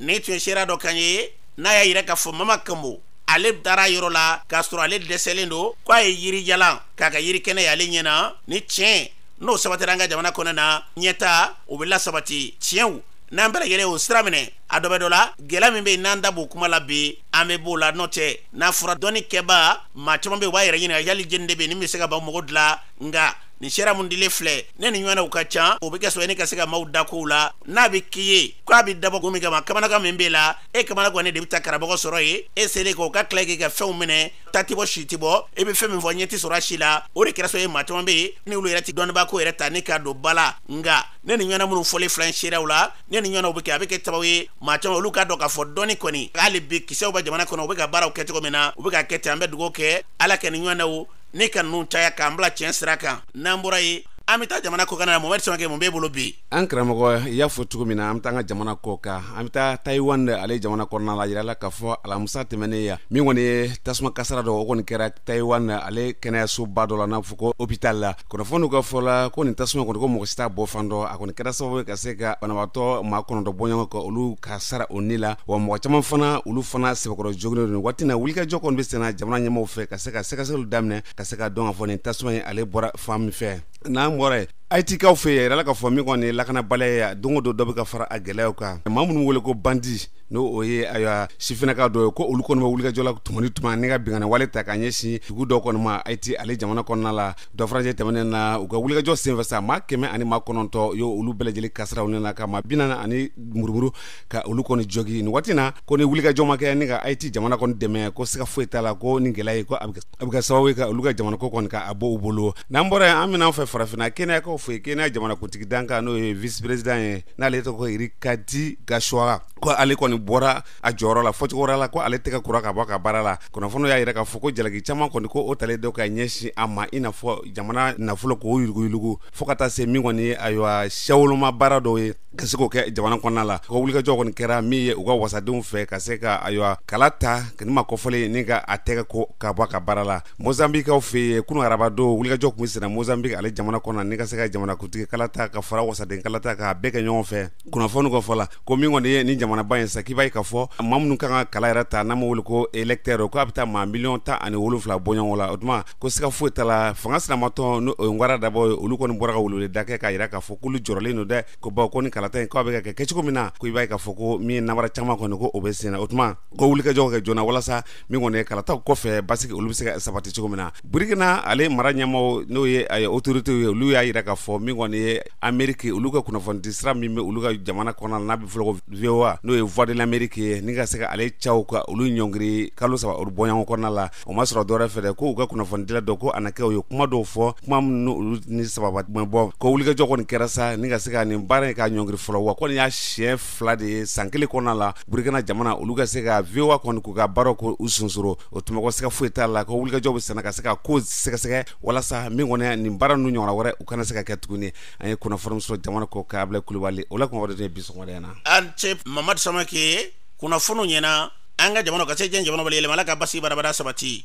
nin tun ye seere dɔ kan ye n'a y'a yira k'a fɔ mama komo ale taara yɔrɔ la k'a sɔrɔ ale dɛsɛlen don ko a ye yirijalan k'a kɛ yiri kɛnɛ y'ale ɲɛ na ni tiɲɛ n'o sabatira an ka jamana kɔnɔna ɲɛtaa o bɛ lasabati tiɲɛw n'an bɛɛ lajɛlen y'o sira minɛ a dɔ bɛ dɔ la gɛlɛya min bɛ yen n'an da b'o kuma la bi an bɛ b'o la n'o tɛ n'a fɔra dɔnnikɛbaa maa caman bɛ yen u b'a yɛrɛ ɲininka yali jɔni de bɛ yen ni min bɛ se ka maa mako dilan nka nin seereya min dilen filɛ ni nin ɲɔgɔnnaw ka ca o be kɛ sɔrɔ ne ka se ka maw da kow la n'a be k'i ye ko a be dabɔ kun min kama kamanagan min b'e la e kamanagannen de be taa karamɔgɔ sɔrɔ yen e selen kɔ ka tila k'i ka fɛnw minɛ ta tɛ bɔ si tɛ bɔ e be fɛn min fɔ ɲɛ tɛ sɔrɔ a si la o de kɛra sabu ye maa caman be yen ni olu yɛrɛ tɛ dɔnnibaa ko yɛrɛ ta ni k'a don ba la nga ni nin ɲɔgɔnna minnu fɔlen filɛ seereyaw la ni nin ɲɔgɔnnaw be kɛ a be kɛ sababu ye maa caman olu k'a dɔn k'a fɔ dɔnni kɔni hali bi kisɛw bɛ jamana kɔnɔ u be ka baaraw kɛ cogo min na u be k'a kɛ ten an bɛ dugawu kɛ ala ka nin ɲɔgɔnnaw ne ka ninnu caya k'an bila tiɲɛ sira kan n'an bɔra yen an bɛ taa jamana kɔkan na mohamɛdi samakɛ mun b'e bolo bi an karamɔgɔ i y'a fɔ cogo min na an bɛ taa an ka jamana kɔkan an bɛ taa taiwan de ale jamana kɔnɔna la yirala k'a fɔ alamusa tɛmɛnen ya min kɔni ye tasuma kasara dɔ o kɔni kɛra taiwan ale kɛnɛyasoba dɔ la n'a fɔ ko hopital la kunnafoniw ka fɔ la ko nin tasuma kɔni ko mɔgɔ si t'a bɔ fan dɔn a kɔni kɛra sababu ye ka se ka banabaatɔ maa kɔnɔntɔn bɔɲɔgɔn ka olu kasaara o ni la wa mɔgɔ caman fana olu fana sɛbɛkɔrɔ joginnen don waati na wulikajɔ kɔni bɛ senna jamana ɲɛmaaw fɛ ka se ka sɛgɛsɛgɛliw daminɛ ka se k'a dɔn k'a fɔ nin tasuma ye ale bɔra fan min fɛ n'an bɔra yen ayitikaw fɛ yen a yirala k'a fɔ min kɔni lakanabaliya don o don dɔ bɛ ka fara a gɛlɛyaw kan maa minnu bɛ wele ko bandi n'o ye ayiwa sifinaka dɔ ye ko olu kɔni bɛ wulikajɔ la tuma ni tuma ni ka binkanni wale ta k'a ɲɛsin dugu dɔ kɔni ma ayiti ale jamana kɔnɔna la dɔfajɛ tɛmɛnen na u ka wulikajɔ senfɛ sa maa kɛmɛ ani maa kɔnɔntɔn yo olu bɛɛ lajɛlen kasaara u ni na ka maa bi naani ani murumuru ka olu kɔni jogin nin waati na ko ni wulikajɔ ma kɛ ni ka ayiti jamana kɔni dɛmɛ ko siga foyi t'a la ko ni gɛlɛya ye ko a bɛ kɛ sababu ye ka olu ka jamana ko kɔni ka a bɔ u bolo n'an bɔra yen an bɛ na an fɛ farafinna keniyakaw fɛ yen keniya jamanakuntigi dankan n'o ye vice-président ye n'ale tɔgɔ ye rigathi gachagua ko ale kɔni bɔra a jɔyɔrɔ la fɔcogo wɛrɛ la ko ale tɛgɛ kora ka bɔ ka baara la kunnafoni y'a yira k'a fɔ ko jalaki caman kɔni ko o talen don ka ɲɛsin a ma i n'a fɔ jamana nafolo k'o yuruguyurugu fo ka taa se min kɔni ye ayiwa siyawoloma baara dɔw ye ka se k'o kɛ jamana kɔnɔna la ko wulikajɔ kɔni kɛra min ye u ka wasadenw fɛ ka se ka ayiwa kala ta nin maa kofɔlen ni ka a tɛgɛ ko ka bɔ ka baara la mozambikaw fɛ yen kunun araba don wulikajɔ tun bɛ senna mozambik ale jamana kɔnɔ ni ka se ka jamanakuntigi kala ta ka fara wasaden kala ta k'a bɛɛ kɛ ɲɔgɔn fɛ kunnafoni ka fɔ la ko min kɔni ye ni jamanaba in sa k'i b'a ye k'a fɔ maa minnu kan ka kala yɛrɛ ta n'an b'a wele ko électeur ko a bɛ taa maa miliyɔn tan ani wolonfila bɔɲɔgɔn la o tuma ko siga foyi t'a la fanga sinamatɔn n'o ye ngwara dabɔ ye olu kɔni bɔra ka weleweleda kɛ k'a yira k'a fɔ k'olu jɔrɔlen don dɛ ko bawo ko ni kalata in ko a bɛ ka kɛ kɛcogo min na ko i b'a ye k'a fɔ ko min ye namara caman kɔni ko o bɛ senna o tuma ko wulikajɔw kɛ joona walasa min kɔni ye kalataw kɔfɛ basigi olu bɛ se ka sabati cogo min na burikina ale mara ɲɛmaaw n'o ye autorités ye olu y'a yira k'a fɔ min kɔni ye ameriki olu ka kunnafonidi sira min bɛ olu ka jamana kɔnɔna n'a bɛ fɔ ko voa n'o ye voix de l'amérique ye ni ka se ka ale caw ka olu ɲɔngiri kalo saba olu bɔɲɔgɔn kɔnɔna la o ma sɔrɔ dɔwɛrɛ fɛ dɛ ko u ka kunnafonidila dɔ ko anakɛ u ye kuma dɔw fɔ kuma minnu olu ni sababa tun bɔ ko wulikajɔ kɔni kɛra sa ni ka se ka nin baara in ka ɲɔngiri fɔlɔ wa kɔni y'a siɲɛ fila de ye san kelen kɔnɔna la burukina jamana olu ka se ka voa kɔni k'u ka baaraw ko u sonsoro o tuma ko siga foyi t'a la ko wulikajɔ bɛ senna ka se ka ko sɛgɛsɛgɛ walasa min kɔni ye nin baara ninnu ɲɔgɔnna wɛrɛ u kana se ka kɛ tuguni an ye kunnafoni sɔrɔ jamana kɔkan abilayi kulubali o la kumaba de ye bi sɔgɔmada na i ni ce mamadu samakɛ kunnafoni ɲɛna an ka jamana ka se diɲɛ jamanaw bɛɛ la yɛlɛma ala ka basigi badaa badaa sabati